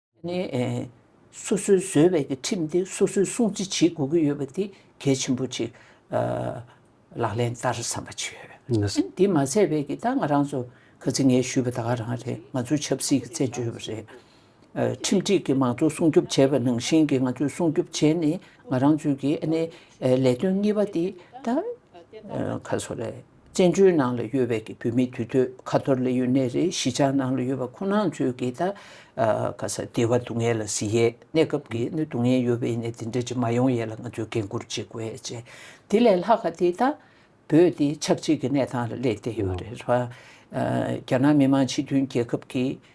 ནི། སོ་སོའི་བཟོས་པའི་ཀྱི་ཁྲིམས་དེ་སོ་སོའི་སྲུང་བརྩི་བྱེད་དགོས་ཀྱི་ཡོད་པ་དེ་གལ་ཆེན་པོ་གཅིག་ལག་ལེན་བསྟར་བསམ་པ་བྱེད་ཡོད། དེ་མ་ཚད་པའི་ཀྱི་ད་ང་རང་ཚོ་ག་ཚིག་ངས་ཞུས་པ་ད་ག་རང་རེད་ང་ཚོའི་ཆབ་སྲིད་ཀྱི་བཙན་བྱོལ་བ་རེད། ཁྲིམས་སྒྲིག་གི་མང་གཙོ་སྲུང་སྐྱོབ་བྱས་པ་ནང་བཞིན་གྱི་ང་ཚོས་སྲུང་སྐྱོབ་བྱས་ནས་ང་རང་ཚོའི་ཀྱི་ནི་ལས་དོན་གཉིས་པ་དེ་ད་ག་སོ་རེད། བཙན་བྱོལ་ནང་ལ་ཡོད་པའི་བོད་མི་དུས་ཚོད་ཁ་ཐོར་ལས་ཡུན་གནས་རེའི་གཞིས་ཆགས་ནང་ལ་ཡོད་པ་ཁོ་ནང་ཚོས་ཀྱི་ད་ག་ས་སྡེ་བ་སྡུག་བསྔལ་ལ་ཟི་ཡས་གནས་སྐབས་ཀྱི་ནི་སྡུག་བསྔལ་ཡོད་པ་ཡིན་ནས་དེ་འདྲ་ཅིག་མ་ཡོང་ཡས་ལ་ང་ཚོས་འགན་ཁུར་བྱེད་དགོས་ཡས་བྱས་དེ་ལས་ལྷག་ག་དེ་ད་བོད་འདི་ཆགས་འཇིག་གི་གནས་སྟངས་ལ་སླེབས་བསྡད་ཡོད་རེད་ར་བ། རྒྱ་ནག་མི་དམངས་སྤྱི་མཐུན་རྒྱལ་ཁབ་ཀྱི།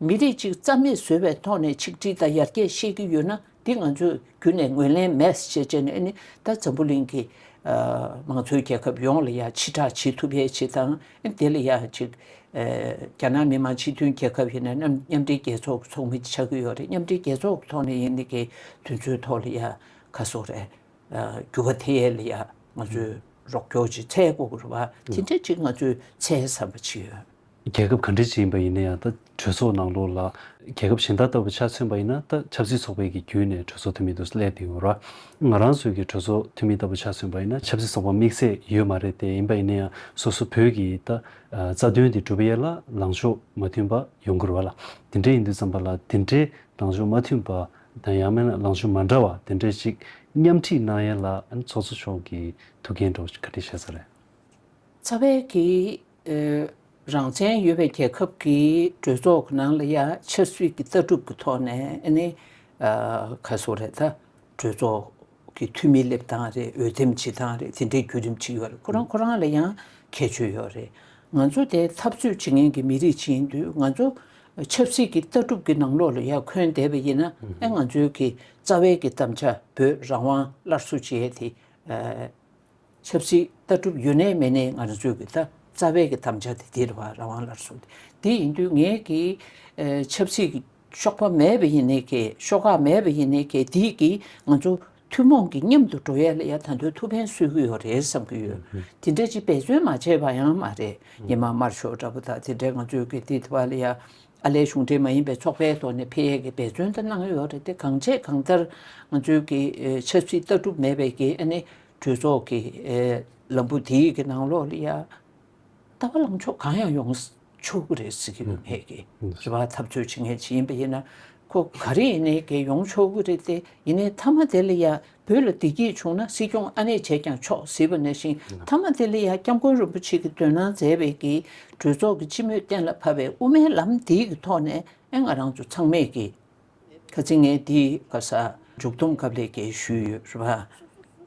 མི་རིགས་གཅིག་རྩ་མེད་བཟོ་བའི་ཐོག་ནས་ཆིག་སྒྲིལ་དང་ཡར་རྒྱས་བཤད་ཀྱི་ཡོད་ན་འདི་ང་ཚོས་རྒྱུན་ནས་ངོས་ལེན་མེད་ཅེས་བརྗོད་ནས་ནི་ད་འཛམ་བུ་གླིང་གི་མང་གཙོའི་རྒྱལ་ཁབ་ཡོངས་ལ་ཡང་ཕྱི་བསྒྲགས་བྱེད་ཐུབ་ཡས་ཅེས་དང་དེ་ལ་ཡང་ཅིག་རྒྱ་ནག་མི་དམངས་སྤྱི་མཐུན་རྒྱལ་ཁབ་ཡིན་ན་མཉམ་འབྲེལ་རྒྱལ་ཚོགས་ཀྱི་ཚོགས་མི་ཆགས་ཀྱི་ཡོད་རེད་མཉམ་འབྲེལ་རྒྱལ་ཚོགས་ཀྱི་ཐོག་ནས་ཡིན་ནི་གི་དུས་ཚོད་ཐོག་ལ་ཡང་ཁ་སོ་རེ་འགྱུར་བ་དེ་ཡས་ལ་ཡང་ང་ཚོས་རོགས་སྐྱོར་ཅིག་ཚད་དགོས་ཀྱི་རེད་བ་དེ་འདྲ་ཅིག་ང་ཚོས་ཚད་བསམ་པ་བྱེད་ཡོད། རྒྱལ་ཁབ་ག་འདྲི་ཅི་ཡིན་པ་ཡིན་ན་ཡང་ད་གྲོས་ཚོགས་ནང་ལོགས་ལ་རྒྱལ་ཁབ་གཞན་དག་ལྟ་བུ་ཆ་མཚོན་པ་ཡིན་ན་ད་ཆབ་སྲིད་ཚོགས་པའི་གི་བརྒྱུད་ནས་གྲོས་ཚོགས་འཐུས་མི་དུ་སླེབས་ཏེ་ཡོང་ར། ང་རང་ཚོའི་གི་གྲོས་ཚོགས་འཐུས་མི་ལྟ་བུ་ཆ་མཚོན་པ་ཡིན་ན་ཆབ་སྲིད་ཚོགས་པ་དམིགས་ཚད་ཡོད་མ་རེད་དེ་ཡིན་པ་ཡིན་ན་ཡང་སོ་སོ་བོད་གི་ད་རྩ་དོན་དེ་གྲུབ་ཡས་ལ་ལངས་ཕྱོགས་མ་མཐུན་པ་ཡོང་གི་རུ་བ་ལ་དེ་འདྲས་ཡིན་དུས་ཙམ་པ་ལ་དེ་འདྲས་ལངས་ཕྱོགས་མ་མཐུན་པ་དང་ཡང་མན་ལངས་ཕྱོགས་མ་འདྲ་བ་དེ་འདྲས་ཅིག་མཉམ་ཁྲིད་གནང་ཡས་ལ་ཚོགས་གཙོ་མཆོག་གི་ཐུགས་འགན་འགྲོ་ག་འདྲི་བྱས་ས་རེད། ཚ་བས་གི་རང་བཙན་ཡོད་པའི་རྒྱལ་ཁབ་ཀྱི་གྲོས་ཚོགས་ཀྱི་ནང་ལ་ཡང་ཆབ་སྲིད་ཀྱི་ལྟ་གྲུབ་ཀྱི་ཐོག་ནས་ནི་ག་སོ་རེད་ད། གྲོས་ཚོགས་ཀྱི་འཐུས་མི་སླེབས་སྟངས་རེད་འོས་འདེམས་བྱེད་སྟངས་རེད་དེ་འདྲའི་བརྒྱུད་རིམ་ཅིག་ཡོད་རེད་ཁོ་རང་ཁོ་རང་ལ་ཡང་ཁྱད་ཆོས་ཡོད་རེད། ང་ཚོ་དེ་འཐབ་རྩོད་བྱེད་མཁན་གྱི་མི་རིགས་ཅིག་ཡིན་དུས་ང་ཚོ་ཆབ་སྲིད་ཀྱི་ལྟ་གྲུབ་ཀྱི་ནང་ལོགས་ལ་ཡར་འཁོན་བསྡད་པ་ཡིན་ན་ང་ཚོའི་གི་རྩ་བའི་གི་གཏམ་བྱ་བོད་རང་དབང་སླར་གསོ་བྱེད་དེ། ཆབ་སྲིད་ལྟ་གྲུབ་ཡོད་ནས་མེད་ནས་ང་ཚོས་ཀྱི་ད་རྩ་བའི་ཀྱི་དམ་བཅའ་དེ་དེར་བ་རང་དབང་ལར་སོང་སྟེ་དེ་ཡིན་དུས་ངས་ཀྱི་ཆབ་སྲིད་ཀྱི་གཤོག་པ་མེད་པ་ཡིན་ནས་ཀྱི་ཤོག་ཁག་མེད་པ་ཡིན་ནས་ཀྱི་དེས་ཀྱི་ང་ཚོ་ཐུན་མོང་གི་མཉམ་དུ་འགྲོ་ཡས་ལ་ཡ་ད་དོན་ཐུགས་ཕན་གསོས་ཀྱི་ཡོད་རེད་བསམ་གྱི་ཡོད་དེ་འདྲས་ཀྱི་འབད་བརྩོན་མ་བྱས་པ་ཡང་མ་རེད་ཉི་མ་དམར་ཤོག་འདྲ་པོ་དག་དེ་འདྲས་ང་ཚོས་ཀྱི་དེ་དེ་བ་ལ་ཡ་ཨ་ལས་གཞུང་འབྲེལ་མ་ཡིན་པའི་ཚོགས་པའི་ཐོག་ནས་འཕེལ་ཡས་ཀྱི་འབད་བརྩོན་དེ་གནང་ཡོད་རེད་དེ་གང་བྱས་གང་ལྟར་ང་ཚོས་ཀྱི་ཆབ་སྲིད་ལྟ་གྲུབ་མེད་པས་ཀྱི་ཨ་ནི། གྲོས་ཚོགས་ཀྱི་ལམ་བུ་དེའི་གི་ནང་ལོགས་ལི་ཡཱ་ལྟ་བ་ལངས་ཕྱོགས་གང་ཡང་ཡོང་ཆོག་གི་རེད་ཟེར་གི་ཡོད་མེད་ཀྱི་རེད་བ་ཐབས་བརྩོད་བྱེད་མཁན་ཇི་ཡིན་པ་ཡིན་ན་ཁོ་ག་རེ་ཡིན་ནའི་གི་ཡོང་ཆོག་གི་རེད་དེ་ཡིན་ནའི་མཐའ་མ་དེ་ལི་ཡཱ་བོད་ལ་བདེ་སྐྱིད་བྱུང་ན་སྲིད་སྐྱོང་ཨ་ནེ་བྱས་ཀྱང་ཆོག་ཟེར་བ་ན་བཞིན་མཐའ་མ་དེ་ལི་ཡཱ་སྐྱབས་མགོན་རིན་པོ་ཆེ་གི་འདོན་གནང་མཛད་པའི་གི་གྲོས་ཚོགས་ཀྱི་སྤྱི་མོས་གཏན་ལ་ཕབ་པའི་དབུ་མའི་ལམ་དེའི་གི་ཐོག་ནས་ཨེ་ང་རང་ཚོ་ཚང་མས་གི་ག་ཚིག་ངས་འདི་ག་ས་མཇུག་བསྡོམས་སྐབས་ལས་ཀྱི་ཞུས་ཡོད་རེད།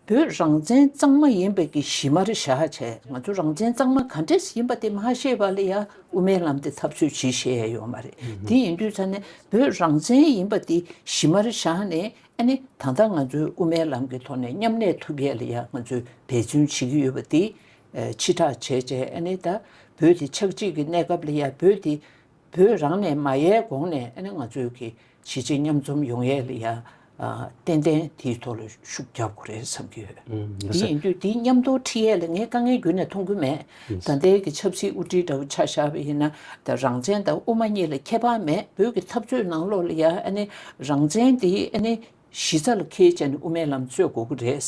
བོད་རང་བཙན་གཙང་མ་ཡིན་པའི་གྱི་གཞི་མ་རེ་བཞག་བྱས་ང་ཚོ་རང་བཙན་གཙང་མ་ག་འདྲས་ཡིན་པ་དེ་མ་ཤེས་པ་ལ་ཡ་དབུ་མའི་ལམ་དེ་འཐབ་རྩོད་བྱེད་ཤེས་ཡ་ཡོད་མ་རེད་དེ་ཡིན་དུས་ཚར་ནས་བོད་རང་བཙན་ཡིན་པ་དེ་གཞི་མ་རེ་བཞག་ནས་ཨ་ནི་ད་ལྟ་ང་ཚོའི་དབུ་མའི་ལམ་གྱི་ཐོག་ནས་མཉམ་གནས་ཐུབ་ཡས་ལ་ཡ་ང་ཚོས་འབད་བརྩོན་བྱེད་ཀྱི་ཡོད་པ་དེ་ཕྱི་དྲག་བྱས་བྱས་ཨ་ནི་ད་བོད་དེ་ཆགས་འཇིག་གི་གནས་སྐབས་ལ་ཡ་བོད་དེ་བོད་རང་ནས་མ་ཡལ་དགོངས་ནས་ཨ་ནེ་ང་ཚོའི་གི་བྱེད་བྱེད་མཉམ་འཛོམས་ཡོང་ཡས་ལ་ཡ་ཏན་ཏན་དེའི་ཐོག་ལ་ཤུགས་རྒྱབ་དགོས་རེད་བསམ་གྱི་ཡོད། དེ་ཡིན་དུས་དེའི་མཉམ་དུ་ཁྲིད་ཡས་ལ་ངས་དཀའ་ངལ་རྒྱུན་ནས་མཐོང་གི་མེད། ད་ལྟའི་གི་ཆབ་སྲིད་དབུ་ཁྲིད་འདྲ་བོ་ཆགས་ཤར་བ་ཡིན་ན་ད་རང་བཙན་དང་དབུ་མ་གཉིས་ལ་ཁྱད་པར་མེད་བོད་གི་འཐབ་རྩོད་ནང་ལོགས་ལ་ཡ་ཨ་ནེ་རང་བཙན་དེ་ཨ་ནེ་གཞི་རྩ་ལ་ཁེལ་བྱས་ནས་དབུ་མའི་ལམ་རྩོད་དགོས་གི་རེད་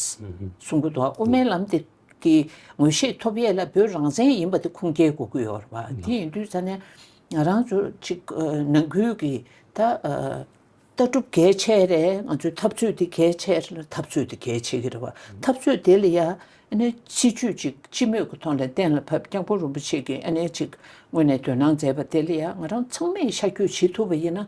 གསུང་གི་འདུག་དབུ་མའི་ལམ་དེ། ཀྱི་ངོས་ཤེས་ཐོབ་ཡས་ལ་བོད་རང་བཙན་ཡིན་པ་དེ་ཁུངས་སྐྱེལ་དགོས་ཀྱི་ཡོད་རེད་བ་དེ་ཡིན་དུས་ས་ནས་ང་རང་ཚོ་ཅིག་ནང་ཁུལ་གྱི་ད་ལྟ་གྲུབ་གལ་ཆེ་རེད་ང་ཚོའི་འཐབ་རྩོད་དེ་གལ་ཆེ་རེད་འཐབ་རྩོད་དེ་གལ་ཆེ་གི་རེད་བ་འཐབ་རྩོད་དེ་ལ་ཡ་ནི་སྲིད་ཇུས་ཅིག་སྤྱི་མོས་ཀྱི་ཐོག་ནས་གཏན་ལ་ཕབ་སྐྱབས་མགོན་རིན་པོ་ཆེ་གྱི་ཨ་ནེ་ཅིག་ངོས་ནས་དོན་སྣང་མཛད་པ་དེ་ལ་ཡ་ང་རང་ཚང་མས་ཤ་རྒྱུས་བྱེད་ཐུབ་པ་ཡིན་ན།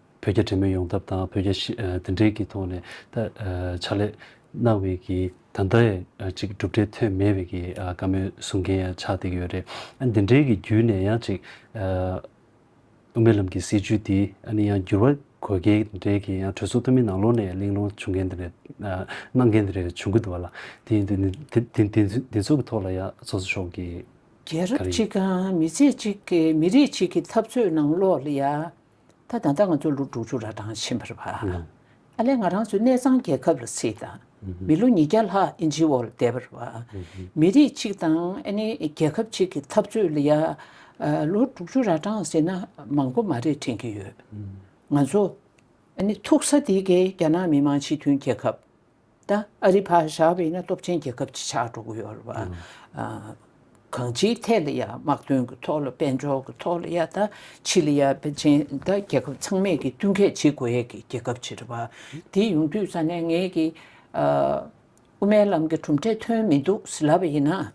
བོད་རྒྱ་འབྲེལ་མོལ་ཡོང་ཐབས་དང་བོད་རྒྱ་དེ་འབྲེལ་གྱི་ཐོག་ནས་ཕྱག་ལས་གནང་བའི་གི་ད་ལྟ་ཡང་ཅིག་གྲུབ་འབྲས་ཐོན་མེད་པའི་གི་བཀའ་མོལ་གསུང་མཁན་ཡང་ཆགས་བསྡད་ཀྱི་ཡོད་རེད། དེ་འབྲེལ་གྱི་བརྒྱུད་ནས་ཡང་ཅིག་དབུ་མའི་ལམ་གྱི་སྲིད་བྱུས་འདི་ཨ་ནི་ཡང་འགྱུར་བ་དགོས་གལ་འབྲེལ་གྱི་ཡང་གྲོས་ཚོགས་འཐུས་མི་ནང་ལོགས་ནས་གླེང་སློང་བྱུང་མཁན་དེ་རེད། གནང་མཁན་དེ་རེད་བྱུང་གི་འདུག་བ་ལ། དེ་ཚོ་གི་ཐོག་ལ་ཡང་ཚོགས་གཙོ་མཆོག་གིས། རྒྱལ་རབས་གཅིག་གམ་མི་ཚེ་གཅིག་གི་མི་རིགས་གཅིག་གི་འཐབ་རྩོད་ནང་ལོགས་ལ་ཡང། ད་དང་ད་ང་ཚོ་ལོ་དྲུག་ཅུ་ར་གྲངས་ཕྱིན་པར་བར་ཨ་ལས་ང་རང་ཚོའི་གནས་ཚང་རྒྱལ་ཁབ་ལ་སྲིད་དང་མི་ལོ་ཉིས་བརྒྱ་ལྷག་ཨིན་ཇིའི་འོག་ལ་བསྡད་པར་བར་མི་རིགས་གཅིག་དང་ཨ་ནི་རྒྱལ་ཁབ་གཅིག་གི་འཐབ་རྩོད་ལ་ཡ་ལོ་དྲུག་ཅུ་ར་གྲངས་ཟེར་ན་མང་པོ་མ་རེད་དྲན་གྱི་ཡོད། ང་ཚོ་ཨ་ནི་ཐུག་ས་དེ་གའི་རྒྱ་ནག་མི་དམངས་སྤྱི་མཐུན་རྒྱལ་ཁབ། ད་ཨ་རི་བྷ་ཞའི་བོད་ནི་སྟོབས་ཆེན་རྒྱལ་ཁབ་ཅིག་ཆགས་འགྲོ་གི་ཡོད་རེད་བ། གང་ཅིའི་ཐད་ལ་ཡང་དམག་དོན་གྱི་ཐོག་ལ་དཔལ་འབྱོར་གྱི་ཐོག་ལ་ཡང་ད་ཆི་ལི་ཡ་བེ་ཅིན་ད་རྒྱལ་ཁབ་ཚང་མས་ཀྱིས་བསྟུན་མཁས་བྱེད་དགོས་ཡས་ཀྱི་རྒྱལ་ཁབ་ཅིག་རེད་བ། དེ་ཡོང་དུས་ས་ནས་ངས་ཀྱིས་ཨ་དབུ་མའི་ལམ་གྱི་གྲུབ་འབྲས་ཐོན་མི་འདུག་ཟེར་ལབ་པ་ཡིན་ན།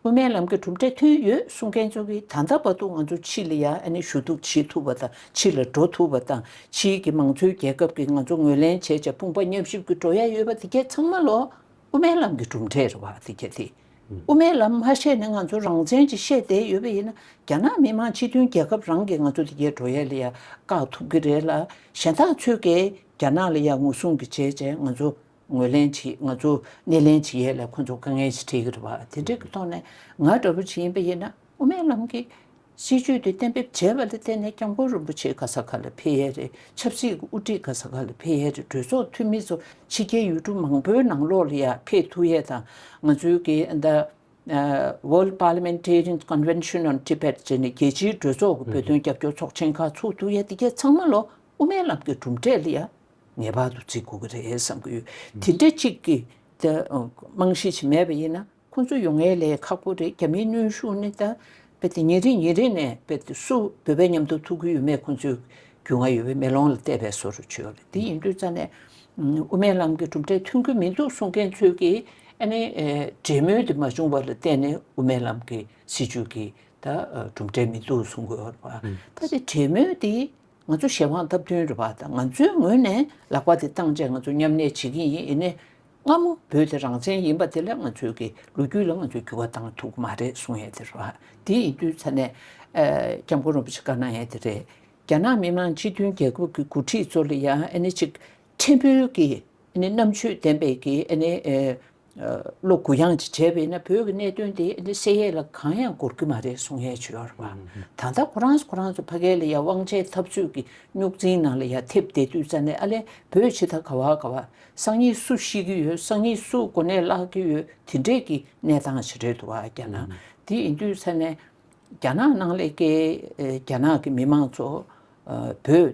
དབུ་མའི་ལམ་གྱི་གྲུབ་འབྲས་ཐོན་ཡོད་གསུང་མཁན་ཚོ་གིས་ད་ལྟ་བར་དུ་ང་ཚོ་ཕྱི་ལ་ཡར་ནས་ཞུ་གཏུག་བྱེད་ཐུབ་པ་དང་ཕྱི་ལ་འགྲོ་ཐུབ་པ་དང་ཕྱིའི་གྱི་མང་གཙོའི་རྒྱལ་ཁབ་ཀྱིས་ང་ཚོ་ངོས་ལེན་བྱེད་ཅེས་དཔུང་པ་མཉམ་གཤིབ་ཀྱིས་འགྲོ་ཡ་ཡོད་པ་དེ་གས་ཚང་མ་ལོ་དབུ་མའི་ལམ་གྱི་གྲུབ་འབྲས་རེད་བ་དེ་གས་དེ་དབུ་མའི་ལམ་མ་བཤད་ནས་ང་ཚོ་རང་བཙན་གྱིས་བཤད་བསྡད་ཡོད་པ་ཡིན་ན་རྒྱ་ནག་མི་མང་སྤྱི་མཐུན་རྒྱལ་ཁབ་རང་གིས་ང་ཚོ་དེ་གས་འགྲོ་ཡ་ལ་ཡར་བཀག་ཐུབ་ཀྱི་རེད་ལ་གཞན་དག་ཚོས་གས་རྒྱ་ནག་ལ་ཡར་ངོ་སྲུང་གྱིས་བྱས་ཅེས་ང་ཚོ་ངོས་ལེན་བྱེད་ང་ཚོ་སྣེ་ལེན་བྱེད་ཡས་ལས་ཁོ་ཚོ་དཀའ་ངལ་ཞིག་འཕྲད་ཀྱི་རེད་བ་དེ་འདྲས་ཀྱི་ཐོག་ནས་ང་འདྲ་བོ་ཞིག་ཡིན་པ་ཡིན་ན་དབུ་མའི་ལམ་གྱི་སྲིད་བྱུས་དེ་གཏན་འབེབས་བྱས་པ་ལ་བརྟེན་ནས་སྐྱབས་མགོན་རིན་པོ་ཆེ་ག་ས་ག་ལ་ཕེབས་ཡས་རེད་ཆབ་སྲིད་ཀྱི་དབུ་ཁྲིད་ག་ས་ག་ལ་ཕེབས་ཡས་རེད་གྲོས་ཚོགས་འཐུས་མི་ཚོ་ཕྱི་རྒྱལ་ཡུལ་གྲུ་མང་པོའི་ནང་ལོགས་ལ་ཡང་ཕེབས་ཐུབ་ཡས་དང་ང་ཚོའི་གི The World Parliamentarians Convention on Tibet ཅེས་ནས་རྒྱལ་སྤྱིའི་གྲོས་ཚོགས་ཀྱི་བོད་དོན་རྒྱབ་སྐྱོར་ཚོགས་ཆེན་ཁག་ཚུགས་ཐུབ་ཡས་འདི་གས་ཚང་མ་ལོ་དབུ་མའི་ལམ་གྱི་གྲུབ་འབྲས་ལ་ཡང་ངེས་པར་དུ་བརྩི་དགོས་ཀྱི་རེད་བསམ་གྱི་ཡོད། དེ་འདྲ་གཅིག་གི་རྨང་གཞི་ཞིག་མེད་པ་ཡིན་ན་ཁོང་ཚོ་ཡོང་ངེས་ལས་ཁག་པོ་རེད་རྒྱ་མིའི་གནོན་ཤུགས་ནི་ད་ཉིན་རེ་ཉིན་རེ་ནས་སུ་བོད་པའི་ཉམས་དོར་ཐུག་གི་ཡོད་མེད་ཁོང་ཚོའི་རྒྱུས་མངའ་ཡོད་པའི་མེ་ལོང་ལ་བལྟས་པས་བཟོ་རུ་ཆུད་ཡོད་ལ་དེ་ཡིན་དུས་རྩ་ནས་དབུ་མའི་ལམ་གྱི་གྲུབ་འབྲས་ཐོན་གྱི་མི་འདུག་གསུང་མཁན་ཚོས་ཀྱི་ཨ་ནི་འབྲེལ་མོལ་དེ་མ་བྱུང་བ་ལ་བལྟས་ནས་དབུ་མའི་ལམ་གྱི་སྲིད་བྱུས་ཀྱི་གྲུབ་འབྲས་མི་འདུག་གསུང་གི་ཡོད་ལ་ད་དེ་འབྲེལ་མོལ་དེ་ང་ཚོ་གཞན་དབང་སྟབས་བསྟུན་རེད་པ་དང་ང་ཚོའི་ངོས་ནས་ལག་པ་དེ་བཏང་རྗེས་ང་ཚོ་མཉམ་གནས་བྱེད་ཀྱིན་ཡིན་ནས། སྔ་མོ་བོད་དེ་རང་བཙན་ཡིན་པ་དེ་ལས་ང་ཚོའི་གི་ལོ་རྒྱུས་ལ་ང་ཚོས་འགྱུར་བ་བཏང་ཐུབ་ཀྱི་མ་རེད་གསུངས་ཡས་དེ་རེད་བ། དེ་ཡིན་དུས་ཚ་ནས། སྐྱབས་མགོན་རིན་པོ་ཆེ་བཀའ་གནང་ཡས་དེ་རེད། རྒྱ་ནག་མི་དམངས་སྤྱི་མཐུན་རྒྱལ་ཁབ་ཀྱི་འགོ་ཁྲིད་ཚོ་ལ་ཡང་ཨ་ནི་ཅིག་ཕྲན་བུའི་གི་ཨ་ནི་རྣམ་དཔྱོད་ལྡན་པའི་གི་ཨ་ནི་བློ་གུ་ཡངས་ཀྱིས་བྱས་པས་ན་བོད་ཀྱི་གནད་དོན་དེ་འདི་གསལ་ཡས་ལ་གང་ཡང་གོར་གྱི་མ་རེད་གསུང་ཡས་བྱོས་ཡོར་བ། ད་ལྟ་ཁོ་རང་ཁོ་རང་ཚོ་ཕ་གའི་ལ་ཡ་དབང་ཆའི་འཐབ་རྩོད་ཀྱི་རྙོག་འཛིང་ནང་ལ་ཡ་ཐེབས་བསྡད་དུས་རྩ་ནས་ཨ་ལས་བོད་ཕྱི་ད་ག་བ་ག་བ་སང་ཉིད་སུ་ཤི་གི་ཡོད་སང་ཉིད་སུ་གོ་གནས་བརླག་གི་ཡོད་དེ་འདྲས་ཀྱི་གནས་སྟངས་ཞིག་རེད་འདུག་བ་རྒྱ་ནག་དེ་ཡིན་དུས་རྩ་ནས་རྒྱ་ནག་ནང་ལས་ཀའི་རྒྱ་ནག་གི་མི་མང་ཚོ་བོད།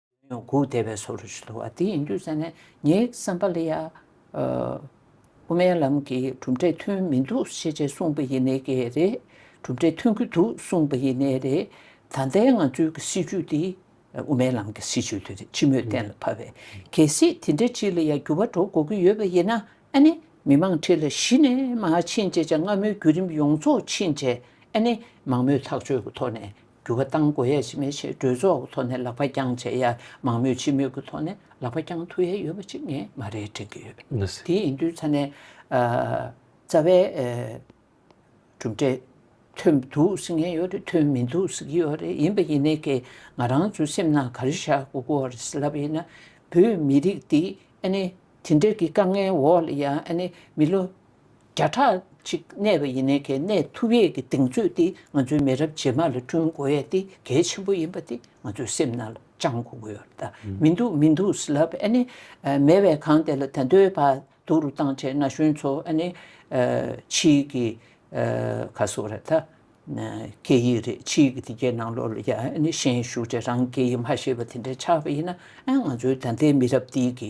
ཡོང་ཁུག་དེ་བས་སོ་རུ་ཞུ་བ་དེ་ཡིན་རྒྱུ་བསམ་ནས་ངའི་བསམ་པ་ལ་ཡ། དབུ་མའི་ལམ་གྱི་གྲུབ་འབྲས་ཐོན་མི་འདུག་ཤེས་བྱས་གསུངས་པ་ཡིན་ནའི་གེ་རེད་གྲུབ་འབྲས་ཐོན་གྱི་འདུག་གསུངས་པ་ཡིན་ནའི་རེད། ད་ལྟའི་ང་ཚོའི་གི་སྲིད་བྱུས་དེ་དབུ་མའི་ལམ་གྱི་སྲིད་བྱུས་དེ་རེད་སྤྱི་མོས་གཏན་ལ་ཕབ་པའི་གལ་སྲིད་དེ་འདྲའི་ཅིག་ལ་ཡ་འགྱུར་བ་འགྲོ་དགོས་ཀྱི་ཡོད་པ་ཡིན་ན་ཨ་ནི་མི་མང་ཁྲི་ལ་གཞི་ནས་མ་ཕྱིན་རྗེས་ཆ་སྔ་མོའི་བརྒྱུད་རིམ་ཡོངས་རྫོགས་ཕྱིན་རྗེས་ཨ་ནི་མང་མོས་ཐག་གཅོད་ཀྱི་ཐོག་ནས་འགྱུར་བ་གཏང་དགོས་ཡས་ཤིན་མེད་ཞེས་གྲོས་ཚོགས་ཀྱི་ཐོག་ནས་ལག་པ་རྐྱང་བྱས་ཡས་མང་མོས་ཕྱི་མོས་ཀྱི་ཐོག་ནས་ལག་པ་རྐྱང་ཐུག་ཡས་ཡོད་པ་ཅིག་ངས་མ་རེད་དྲན་གྱི་ཡོད། དེ་ཡིན་དུས་ཚ་ནས་རྩ་བའི་གྲུབ་འབྲས་ཐོན་འདུག་ཟེར་མཁན་ཡོད་རེད་ཐོན་མི་འདུག་ཟེར་གྱི་ཡོད་རེད་ཡིན་པ་ཡིན་ནའི་ཀྱི་ང་རང་ཚོའི་སེམས་ནང་ག་རེ་བཞག་གི་གོ་རེད་ཟེར་ལབ་ཡས་ན་བོད་མི་རིགས་འདི་ཨ་ནི་དེ་འདྲ་གྱི་དཀའ་ངལ་འོག་ལ་ཡང་ཨ་ནི་མི་ལོ། བརྒྱ་ཕྲག་གཅིག་གནས་པ་ཡིན་ནའི་གལ་གནད་ཐུབ་ཡས་ཀྱི་གདེང་ཚོད་དེ་ང་ཚོའི་མི་རབས་རྗེས་མ་ལ་བསྐྲུན་དགོས་ཡས་དེ་གལ་ཆེན་པོ་ཡིན་པ་དེ་ང་ཚོའི་སེམས་ནང་ལ་བཅང་དགོས་ཀྱི་ཡོད་ད། མི་འདུག་མི་འདུག་ཟེར་ལབ་ཨ་ནི་མེད་བས་གང་དེ་ལ་དད་འདོད་བར་དུ་རུ་བཏང་བྱས་ན་གཞོན་ཚོ་ཨ་ནི་ཕྱིས་ཀྱི་ཁ་གསོ་ར་ད། སྐད་ཡིག་རེད་ཕྱིས་ཀྱི་དེ་གའི་ནང་ལོག་ལ་ཡ་ཨ་ནི་ཤན་ཞུགས་བྱས་རང་སྐད་ཡིག་མ་ཤེས་པ་དེ་འདྲ་ཆགས་པ་ཡིན་ན་ཨ་ང་ཚོའི་ད་ལྟའི་མི་རབས་འདི་གི་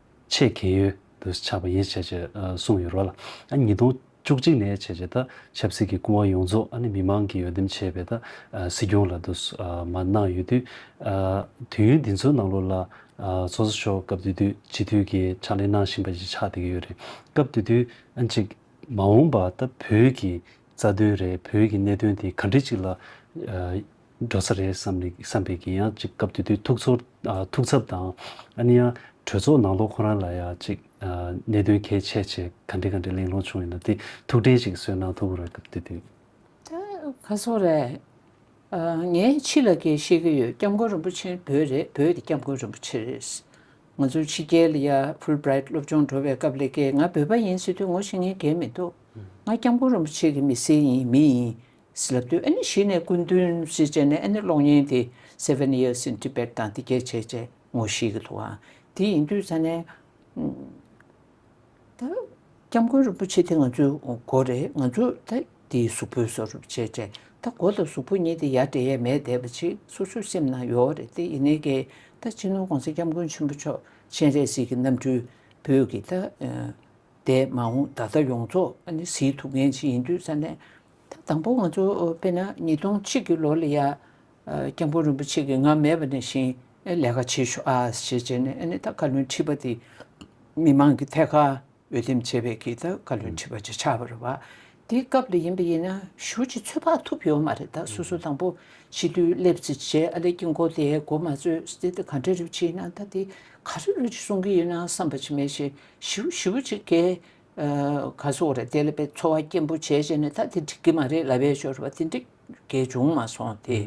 ཆེས་གལ་ཡོད་དུ་ཆགས་པ་ཡིན་ཞེས་བཅས་གསུངས་ཡོད་རོལ། ཉིས་སྟོང་བཅུ་གཅིག་ནས་བྱས་རྗེས་ད་ཆབ་སྲིད་ཀྱི་སྐུ་དབང་ཡོངས་རྫོགས་མི་མང་གིས་འོས་འདེམས་བྱས་པའི་ད་སྲིད་སྐྱོང་ལ་དུ་མ་གནང་ཡོད་དུས། དུས་ཡུན་འདི་ཚོའི་ནང་ལོ་ལ་ཚོགས་གཙོ་མཆོག་སྐབས་དུས་དུས་སྤྱི་འཐུས་ཀྱི་ཕྱག་ལས་གནང་བཞིན་པ་ཞིག་ཆགས་བསྡད་ཀྱི་ཡོད་རེད། སྐབས་དུས་དུས་གཅིག་མ་འོངས་པ་ད་བོད་ཀྱི་རྩ་དོན་རེད་བོད་ཀྱི་གནད་དོན་དེ་ག་འདྲི་ཅིག་ལ། འགྲོ་ས་རེད་བསམ་པའི་གི་ཡང་ཅིག་སྐབས་དེ་དུས་ཐུགས་ཚོར་ཐུགས་འཚབ་དང་ཨ་ནི་ཡང་གྲོས་ཚོགས་ནང་ལོག་ཁོ་རང་ལ་ཡང་ཅིག་གནད་དོན་གལ་ཆེ་ཆེ་ག་འདྲི་ག་འདྲི་གླེང་སློང་བྱུང་ཡོད་ན་དེ་ཐུགས་དྲན་ཞིག་གསོས་གནང་ཐུབ་རེད་སྐབས་དེ་དུས། ཁ་སོ་རེད། ངས་ཕྱི་ལ་གས་ཤེས་ཀྱི་ཡོད་སྐྱབས་མགོན་རིན་པོ་ཆེ་བོད་རེད་བོད་ཀྱི་སྐྱབས་མགོན་རིན་པོ་ཆེ་རེད། ང་ཚོ་ཕྱི་རྒྱལ་ཡ་ཕུལ་བྲེད་སློབ་སྦྱོང་འགྲོ་བའི་སྐབས་ལས་ཀས་ང་བོད་པ་ཡིན་ཟེར་དུས་ངོ་ཤེས་ངེས་གལ་མི་འདུག་ང་སྐྱབས་མགོན་རིན་པོ་ཆེ་གི་མི་སེར་ཡིན་མི་ཡིན་སི་ལ་དུས་ཨེ་ནི་ཞིག་ནས་སྐུ་མདུན་བཞི་ཅན་ནས་ཨེ་ནི་གློག་བརྙན་དེ Seven Years in Tibet དང་འདི་གས་བྱས་ཅེས་ངོ་ཤེས་ཀྱི་འདུག་ཨང་དེ་ཡིན་དུས་ས་ནས་ད་སྐྱབས་མགོན་རིན་པོ་ཆེ་དེ་ང་ཚོའི་མགོ་རེད་ང་ཚོ་ད་འདིའི་གཟུགས་པོའི་སོ་རིན་པོ་ཆེ་ཅན་ད་མགོ་དང་གཟུགས་པོ་གཉིས་དེ་ཡར་འདྲེས་ཡས་མས་བསྡད་པ་ཅིག་སོ་སོའི་སེམས་ནང་ཡོའོ་རེད་དེ་ཡིན་ནའི་གེ་ད་སྤྱི་ནོར་གོང་ས་སྐྱབས་མགོན་ཆེན་པོ་མཆོག་སྤྱན་རས་གཟིགས་ཀྱི་རྣམ་སྤྲུལ་བོད་ཀྱི་ད་འདས་མ་འོངས་ད་ལྟ་ཡོངས་རྫོགས་ཨེ་ནི་གཟིགས་ཐུབ་མཁན་ཅིག་ཡིན་དུས་ས་ནས་ད་དང་པོ་ང་ཚོ་དཔེར་ན་ཉིས་སྟོང་གཅིག་གི་ལོ་ལ་ཡ། སྐྱབས་མགོན་རིན་པོ་ཆེ་གིས་ང་མེད་པ་ནས་བཞིན་ལས་ཀ་བྱེད་ཤོག་ཞེས་བྱས་ནས་ནི་ད་བཀའ་བློན་ཁྲི་པ་དེ་མི་མང་གི་ཐད་ཀར་འོས་འདེམས་བྱས་པའི་གིས་ད་བཀའ་བློན་ཁྲི་པ་ཅིག་ཆགས་པ་རེད་བ། དེའི་སྐབས་ལ་ཡིན་པ་ཡིན་ན་གཞུ་ཅིག་ཚོད་དཔག་ཐུབ་ཡོད་མ་རེད་ད་སོ་སོ་དང་པོ་ཕྱི་དུས་སླེབས་ཚེ་རྗེ་ཨ་ལེ་དཀྱིལ་འཁོར་དེའི་སྒོ་མ་ཚོས་དེ་ད་ག་འདྲ་རེ་བྱེད་ཡིན་ན་ད་དེ་ག་རེ་རེ་གསུང་གི་ཡིན་ན་བསམ་པ་ཅིག་མེད་བཞིན་བཞི་བོ་བཞི་བོ་ཅིག་གས། ག་སོགས་རེད་དེ་ལ་དཔེ་འཚོ་བ་སྐྱེན་པོ་བྱས་བྱས་ནས་ད་དེ་འགྲིག་གི་མ་རེད་ལབ་པའི་ཞོར་བ་དེ་འགྲིག་གི་བྱུང་མ་སོང་དེ།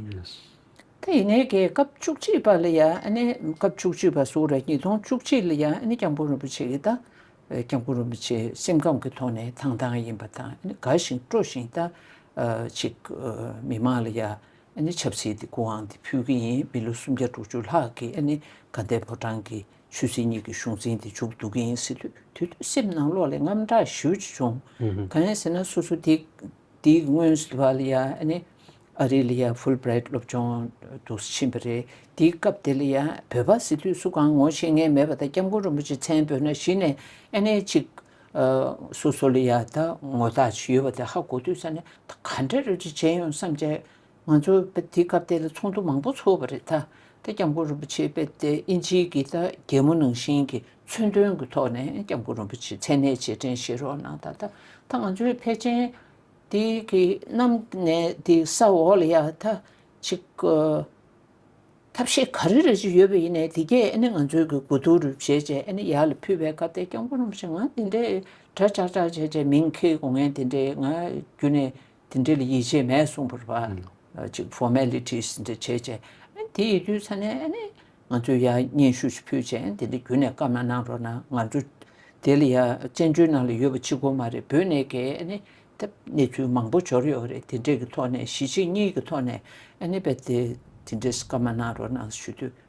ད་ཡིན་ནའི་གེ་སྐབས་བཅུ་གཅིག་པ་ལ་ཡང་ཨ་ནེ་སྐབས་བཅུ་གཅིག་པ་སུ་རེད་ཉིས་སྟོང་བཅུ་གཅིག་ལ་ཡང་ཨ་ནེ་སྐྱབས་མགོན་རིན་པོ་ཆེ་གིས་ད་སྐྱབས་མགོན་རིན་པོ་ཆེ་སེམས་ཁམས་ཀྱི་ཐོག་ནས་ཐང་ཐང་ཡིན་པ་དང་ཨ་ནེ་དགའ་ཞིང་སྤྲོ་ཞིང་ད་ཅིག་མི་མང་ལ་ཡང་ཨ་ནེ་ཆབ་སྲིད་དེ་སྐུ་ཨང་དེ་ཕུལ་གི་ཡིན་མི་ལོ་སུམ་བརྒྱ་དྲུག་ཅུ་ལྷག་གི་ཨ་ནེ་དགའ་ལྡན་ཕོ་བྲང་གི་ཆུ་སྲིན་གཉིས་ཀྱི་གཞུང་འཛིན་དེ་འཇུག་འདུག་གི་ཡིན་སྲིད་དུས་དུས་དུས་སེམས་ནང་ལོག་ལས་རྔམ་སྐྲག་ཞིའུ་ཅི་བྱུང། གང་ཡིན་ཟེར་ན་སོ་སོ་དེ་དེའི་སྔོན་སི་ལི་བྷ་ལི་ཡ་ཨ་ནི་ཨ་རི་ལི་ཡ་ཧྥུལ་བྷྲེ་ཏ་སློབ་ཆུང་དུ་ཕྱིན་པ་རེད་དེའི་སྐབས་དེ་ལ་ཡ་བོད་པ་སི་དུས་སུ་གང་ངོ་ཤེས་ངེས་མེད་པ་དང་སྐྱབས་མགོན་རིན་པོ་ཆེ་མཚན་བོད་ན་གཞི་ནས་ཨེ་ནས་ཅིག་སོ་སོ་ལ་ཡ་ད་ངོ་ཐག་ཅི་ཡོད་པ་དེ་ཧ་གོ་དུས་ས་ནས་ད་ག་འདྲ་རེ་རེ་བྱས་ཡོང་བསམ་བྱས་ང་ཚོ་དེའི་སྐབས་དེ་ལ་ཚོགས་འདུ་མང་པོ་ཚོགས་པ་རེད་ད་ལྟ་སྐྱབས་མགོན་རིན་པོ་ཆེ་དཔལ་ལྡན་དབྱིན་ཇིའི་གི་ད་རྒྱལ་མོ་ནང་བཞིན་གྱི་མཚོན་དོན་གྱི་ཐོག་ནས་སྐྱབས་མགོན་རིན་པོ་ཆེའི་མཚན་གནས་རྗེས་དྲན་བཞེས་རོགས་གནང་ད་ལྟ་ད་ང་ཚོའི་ཕལ་ཆེན་དེ་གི་གནམ་ནས་དེ་ས་འོག་ལ་ཡ་ད་ཅིག་ཐབས་ཤེས་ག་རེ་རེ་ཅིག་ཡོད་པ་ཡིན་ནའི་དེ་གས་ཨ་ནི་ང་ཚོའི་གི་དགོས་འདུག་རུ་བཞེས་རྗེས་ཨ་ནི་ཡར་ལ་ཕུད་པའི་སྐབས་དེ་སྐྱབས་མགོན་རིན་པོ་ཆེ་ང་འདི་འདྲའི་གྲ་ཅག་ཅག་བྱས་རྗེས་མིང་ཁེ་གོ་ངས་འདི་འདྲའི་ང་རྒྱུ་ནས་དེ་འདྲའི་ཡིད་ཆེས་མེད་གསུངས་པར་བ་གཅིག Formalities འདྲ་བྱས་རྗེས་དེའི་དུས་ཚ་ནས་ང་ཚོས་ཡང་སྙན་ཞུ་ཞིག་ཕུལ་རྗེས་དེ་འདྲ་བརྒྱུད་ནས་སྐབས་ན་གནང་རོགས་གནང་ང་འགྲོ་དེ་ལ་ཡང་བཙན་བྱོལ་ནང་ལ་ཡོད་པ་གཅིག་པོ་མ་རེད་བོད་ནས་ཀྱི་གནས་ཚུལ་མང་པོ་འབྱོར་ཡོད་རེད་དེ་འདྲའི་གི་ཐོག་ནས་གཞིས་བྱེས་གཉིས་ཀྱི་ཐོག་ནས་དེ་འདྲའི་སྐབས་མ་གནང་རོགས་གནང་ཞུ་དུས།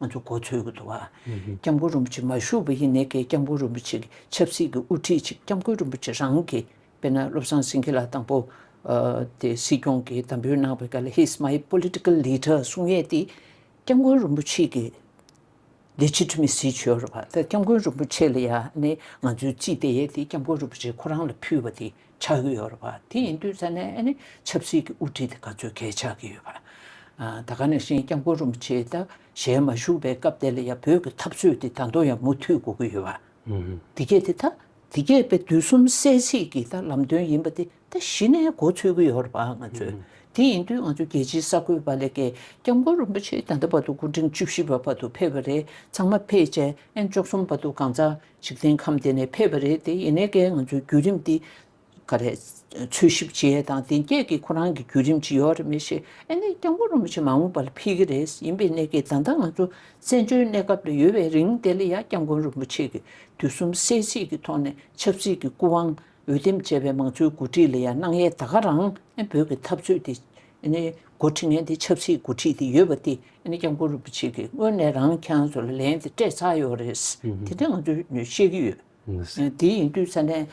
ང་ཚོ་གོ་ཚོད་ཀྱི་འདུག་ཨ། སྐྱབས་མགོན་རིན་པོ་ཆེ་མ་བཞུགས་པ་ཡིན་ནའི་ཀའི་སྐྱབས་མགོན་རིན་པོ་ཆེ་གི་ཆབ་སྲིད་ཀྱི་དབུ་ཁྲིད་ཅིག་སྐྱབས་མགོན་རིན་པོ་ཆེ་རང་གི་དཔེར་ན་བློ་བཟང་སེང་གེ་ལགས་དང་པོ་དེ་སྲིད་སྐྱོང་གི་དམ་འབུལ་གནང་བའི་སྐབས་ལ He's my political leader གསུང་ཡས་དེ་སྐྱབས་མགོན་རིན་པོ་ཆེ་གི Legitimacy བྱོས་རོགས་ཨ། ད་སྐྱབས་མགོན་རིན་པོ་ཆེ་ལ་ཡང་ནི་ང་ཚོའི་རྩིས་དེ་ཡས་དེ་སྐྱབས་མགོན་རིན་པོ་ཆེ་ཁོ་རང་ལ་ཕུལ་བ་དེ། ཆགས་ཀྱི་ཡོད་རེད་བ། དེ་ཡིན་དུས་ཚད་ནས་ནི་ཆབ་སྲིད་ཀྱི་དབུ་ཁྲིད་དེ་ག་ཚོད་གལ་ཆགས་ཀྱི་ཡོད་བ། ད་ག་ནས་ཤེས་སྐྱབས་མགོན་རིན་པོ་ཆེ་དང་ཞལ་མ་བཞུགས་པའི་སྐབས་དེ་ལ་ཡང་བོད་ཀྱི་འཐབ་རྩོད་དེ་ད་དུང་ཡང་མུ་མཐུད་འགོ་གི་ཡོད་བ། དེ་སྐད་དེ་ད་དེ་སྐད་པའི་དུས་གསུམ་གསལ་ཚིག་གི་ད་ལམ་སྟོན་ཡིན་པ་དེ་ད་གཞི་ནས་གོ་ཚོད་ཀྱི་ཡོད་རེད་བ་ང་ཚོས། དེ་ཡིན་དུས་ང་ཚོ་རྒྱལ་སྤྱིའི་ས་བགོས་བ་ལས་སྐད་སྐྱབས་མགོན་རིན་པོ་ཆེ་ད་ལྟ་བར་དུ་སྐུ་ཕྲེང་བཅུ་བཞི་བ་བར་དུ་ཕེབས་པ་རེད་ཚང་མ་ཕེབས་བྱས་ཨེ་མཆོག་གསུམ་བར་དུ་གང་ཚང་འཇིག་རྟེན་ཁམས་འདི་ནས་ཕེབས་པ་རེད་དེ་ཡིན་ནའི་ཀའི་ང་ཚོའི་བརྒྱུད་རིམ་འདི་ག་རེད། འཚོལ་ཞིབ་བྱས་དང་དེ་སྐད་ཀྱི་ཁོ་རང་གི་བརྒྱུད་རིམ་ཇི་ཡོག་རེད་མི་ཤེས་ཨ་ནི་སྐྱབས་མགོན་རིན་པོ་ཆེ་མ་འོངས་པ་ལ་ཕེབས་ཀྱི་རེད་ཡིན་པའི་གནད་ཀྱིས་ད་ལྟ་ང་ཚོ་བཙན་བྱོལ་གནས་སྐབས་ལ་ཡོད་པའི་རིང་དེ་ལ་ཡང་སྐྱབས་མགོན་རིན་པོ་ཆེ་གི་དུས་གསུམ་གསལ་བྱེད་ཀྱི་ཐོག་ནས་ཆབ་སྲིད་ཀྱི་སྐུ་དབང་འོས་འདེམས་བྱས་པའི་མང་གཙོའི་མགོ་ཁྲིད་ལ་ཡང་སྣང་ཡས་ད་ག་རང་ཨ་ནི་བོད་ཀྱི་འཐབ་རྩོད་དེ་ཨ་ནི་མགོ་ཁྲིད་ངན་དེ་ཆབ་སྲིད་མགོ་ཁྲིད་དེ་ཡོད་པ་དེ་ནས་ཀྱང་གུ་རུ་པུ་ཆེ་གིས་སྔོན་ནས་རང་ཁྱང་ཚོ་ལ་ལན་དེ་སྤྲད་ཚར་ཡོད་རེད། དེ་འདྲ་ང་ཚོས་ཤེས་ཀྱི་ཡོད། དེ་ཡིན་དུས་ས་གནས་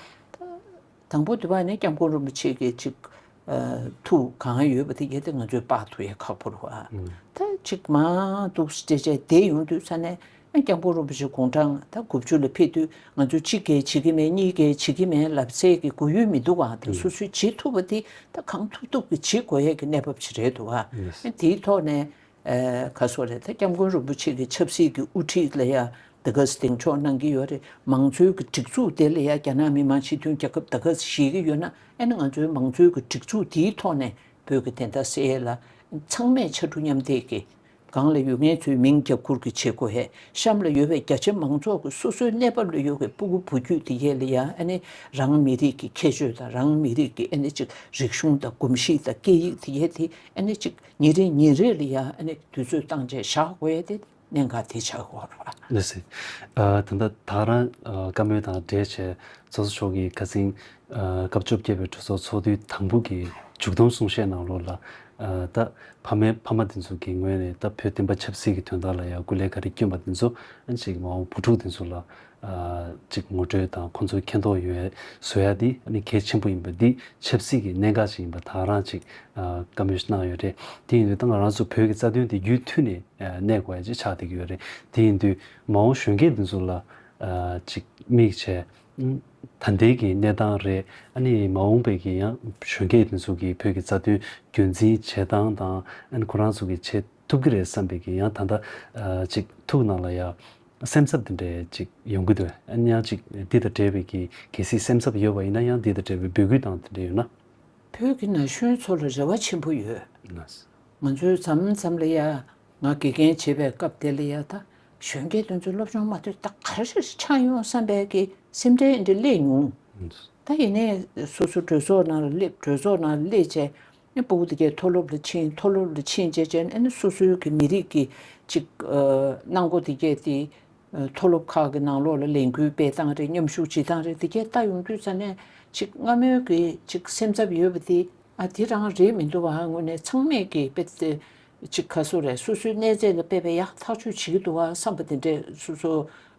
དང་པོ་དེ་བ་ནས་ཀྱང་གུ་རུ་པུ་ཆེ་གིས་ཅིག་ཐུག་གང་ཡོད་པ་དེ་གལ་ཏེ་ང་ཚོས་དཔག་ཐུག་ཡ་ཁག་པོར་བ་ད་ཅིག་མ་གཏུགས་སྤྲད་བྱས་དེ་ཡོང་དུས་ས་གནས་ཨ་རྒྱ་མགོ་རུ་བུ་ཆེ་དགུང་གྲངས་ད་དགུ་བཅུ་ལ་ཕེབས་དུས་ང་ཚོ་གཅིག་རྒྱལ་བྱེད་ཀྱི་མེད་གཉིས་རྒྱལ་བྱེད་ཀྱི་མེད་ལབ་ཚད་ཀྱི་དགོས་ཡུལ་མི་འདུག་ག་དེ་སོ་སོའི་བྱེད་ཐུབ་པ་དེ་ད་གང་ཐུབ་ཐུབ་ཀྱི་བྱེད་དགོས་ཡས་ཀྱི་གནས་བབ་ཅིག་རེད་འདུག་ག་དེའི་ཐོག་ནས་ག་སོ་རེད་ད་རྒྱ་མགོན་རུ་བུ་ཆེ་གྱི་ཆབ་སྲིད་ཀྱི་དབུ་ཁྲིད་ལ་ཡང་ད་ག་ཟེ་གདེང་འཇོག་གནང་གྱི་ཡོད་རེད་མང་གཙོའི་ཀྱི་སྒྲིག་འཛུགས་དེ་ལ་ཡང་རྒྱ་ནག་མི་དམངས་སྤྱི་མཐུན་རྒྱལ་ཁབ་ད་ག་ཟེ་ཞེས་ཀྱི་ཡོད་ན་ཨ་ནི་ང་ཚོའི་མང་གཙོའི་ཀྱི་སྒྲིག་འཛུགས་དེའི་ཐོག་ནས་བོད་ཀྱི་དེ་ད་གསལ་ལ་ཚང་མས་ཕྱར་གྲུ་མཉམ་འདེགས་ཀྱིས་སྒང་ལ་ཡོད་མཁན་ཚོའི་མིང་རྒྱ་སྐུར་གྱི་བྱེད་སྒོ་ཧེ་ཤམ་ལ་ཡོད་པའི་རྒྱ་ཆེ་མང་ཚོགས་ཀྱི་སོ་སོའི་གནས་བབ་ལ་ཡོད་པའི་སྤུ་གུ་བུ་རྒྱུད་དེ་ཡས་ལ་ཡང་ཨ་ནི་རང་མི་རིགས་ཀྱི་ཁྱད་ཆོས་དང་རང་མི་རིགས་ཀྱི་ཨ་ནི་ཅིག་རིག་གཞུང་དང་གོམས་གཤིས་དང་སྐད་ཡིག་དེ་ཡས་དེ་ཨ་ནི་ཅིག་ཉིན་རེ་ཉིན་རེ་ལ་ཡང་ཨ་ནི་དུས་ཚོད་བཏང་རྗེས་བཞག་དགོས་ཡས་དེ་གནད་འགག་དེ་ཆགས་དགོས་རོགས་ཨ། ལོས་ཟིན། ད་ལྟ་ད་རང་བཀའ་མོལ་དང་འབྲེལ་བྱས་ཚོགས་གཙོ་མཆོག་གིས་ཁ་ཚིང་སྐབས་བཅོ་བརྒྱད་པའི་གྲོས་ཚོགས་ཚོགས་དུས་དང་པོ་གི་མཇུག་བསྡོམས་གསུང་བཤད་ནང་ལོགས་ལ། ད་ཕ་མས་ཕ་མ་དེ་ཚོ་གི་ངོས་ནས་ད་བོད་བསྟན་པ་ཆབ་སྲིད་ཀྱི་དོན་དག་ལ་ཡང་སྐུ་ལས་ག་རེ་བསྐྱོན་པ་དེ་ཚོ་ཅིག་མ་འོངས་བུ་ཕྲུག་དེ་ཚོ་ལ་ཅིག་ངོ་སྤྲོད་དང་ཁོ་ཚོ་མཁྱེན་རྟོགས་ཡོད་བཟོ་ཡ་དེ་ནི་གལ་ཆེན་པོ་ཡིན་པ་འདི་ཆབ་སྲིད་ཀྱི་གནད་འགག་ཅིག་ཡིན་པ་དག་རང་ཅིག་བཀའ་མོས་གནང་ཡོད་རེད་དེ་ཡིན་དུས་ད་ང་རང་ཚོ་བོད་ཀྱི་རྩ་དོན་དེ་རྒྱུད་མཐུད་ནས་གནས་དགོས་ཡ་ཅིག་ཆགས་བསྡད་ཀྱི་ཡོད་རེད་དེ་ཡིན་དུས་མ་འོངས་གཞོན་སྐྱེས་དེ་ཚོ་ལ་ཅིག་དམིགས་བྱས་ད་ལྟའི་གི་གནས་སྟངས་རེད། ཨ་ནི་མ་འོངས་པའི་གི་ཡང་གཞོན་སྐྱེས་དེ་ཚོ་གི་བོད་ཀྱི་རྩ་དོན་རྒྱུན་འཛིན་བྱེད་སྟངས་དང་ཨ་ནི་ཁོ་རང་ཚོ་གི་བྱེད་ཐུབ་གི་རེད་བསམ་པའི་གི་ཡང་ད་ལྟ་ཅིག་ཐུགས་ནང་ལ་ཡ་སེམས་འཚབ་དེ་འདྲ་ཅིག་ཡོང་གི་འདུག་ཨ་ནི་ཡང་ཅིག་འདི་དང་འབྲེལ་བའི་གི་གལ་སྲིད་སེམས་འཚབ་ཡོད་པ་ཡིན་ན་ཡང་འདི་དང་འབྲེལ་བའི་འབོད་སྐུལ་དང་དེ་འདྲ་ཡོད་ན། བོད་ཀྱི་ན་གཞོན་ཚོ་ལ་རེ་བ་ཆེན་པོ་ཡོད། ང་ཚོའི་མཚམས་མཚམས་ལ་ཡ། ང་དགེ་རྒན་བྱེད་པའི་སྐབས་དེ་ལ་ཡ་ད་གཞོན་སྐྱེས་དེ་ཚོ་སློབ་སྦྱོང་མ་ཐོས་ད་ག་རེ་རེད་ཆགས་ཡོང་བསམ་པའི་གི་སེམས་ཁྲལ་ཨེ་འདྲ་སླེབས་མྱོང། ད་ཡིན་ནའི་སོ་སོ་གྲོས་ཚོགས་ནང་ལ་སླེབས་གྲོས་ཚོགས་ནང་ལ་སླེབས་བྱས་ནས་པོ་དེ་གས་མཐོ་སློབ་ལ་ཕྱིན་མཐོ་སློབ་ལ་ཕྱིན་བྱས་བྱས་ནས་ཨེ་ན་སོ་སོའི་གི་མི་རིགས་གི་ཅིག་གནང་སྒོ་དེ་གས་དེ་མཐོ་སློབ་ཁག་གི་ནང་ལོགས་ལ་ལས་འགུལ་སྤེལ་སྟངས་རེད་མཉམ་ཞུགས་བྱེད་སྟངས་རེད་དེ་གས་ལྟ་ཡོང་དུས་ས་ནས་ཅིག་སྔ་མོའི་གི་ཅིག་སེམས་འཚབ་ཡོད་པ་དེ་ཨ་དེ་རང་རེད་མི་འདུག་བ་ངོས་ནས་ཚང་མས་གི་དཔེ་ཅིག་ཁ་སོ་རས་སོ་སོའི་གནས་རྫས་ལ་སྤེལ་བས་ཡ་ཐག་ཆོད་བྱེད་ཀྱི་འདུག་བ་བསམ་པ་དེ་འདྲས་སོ་སོ་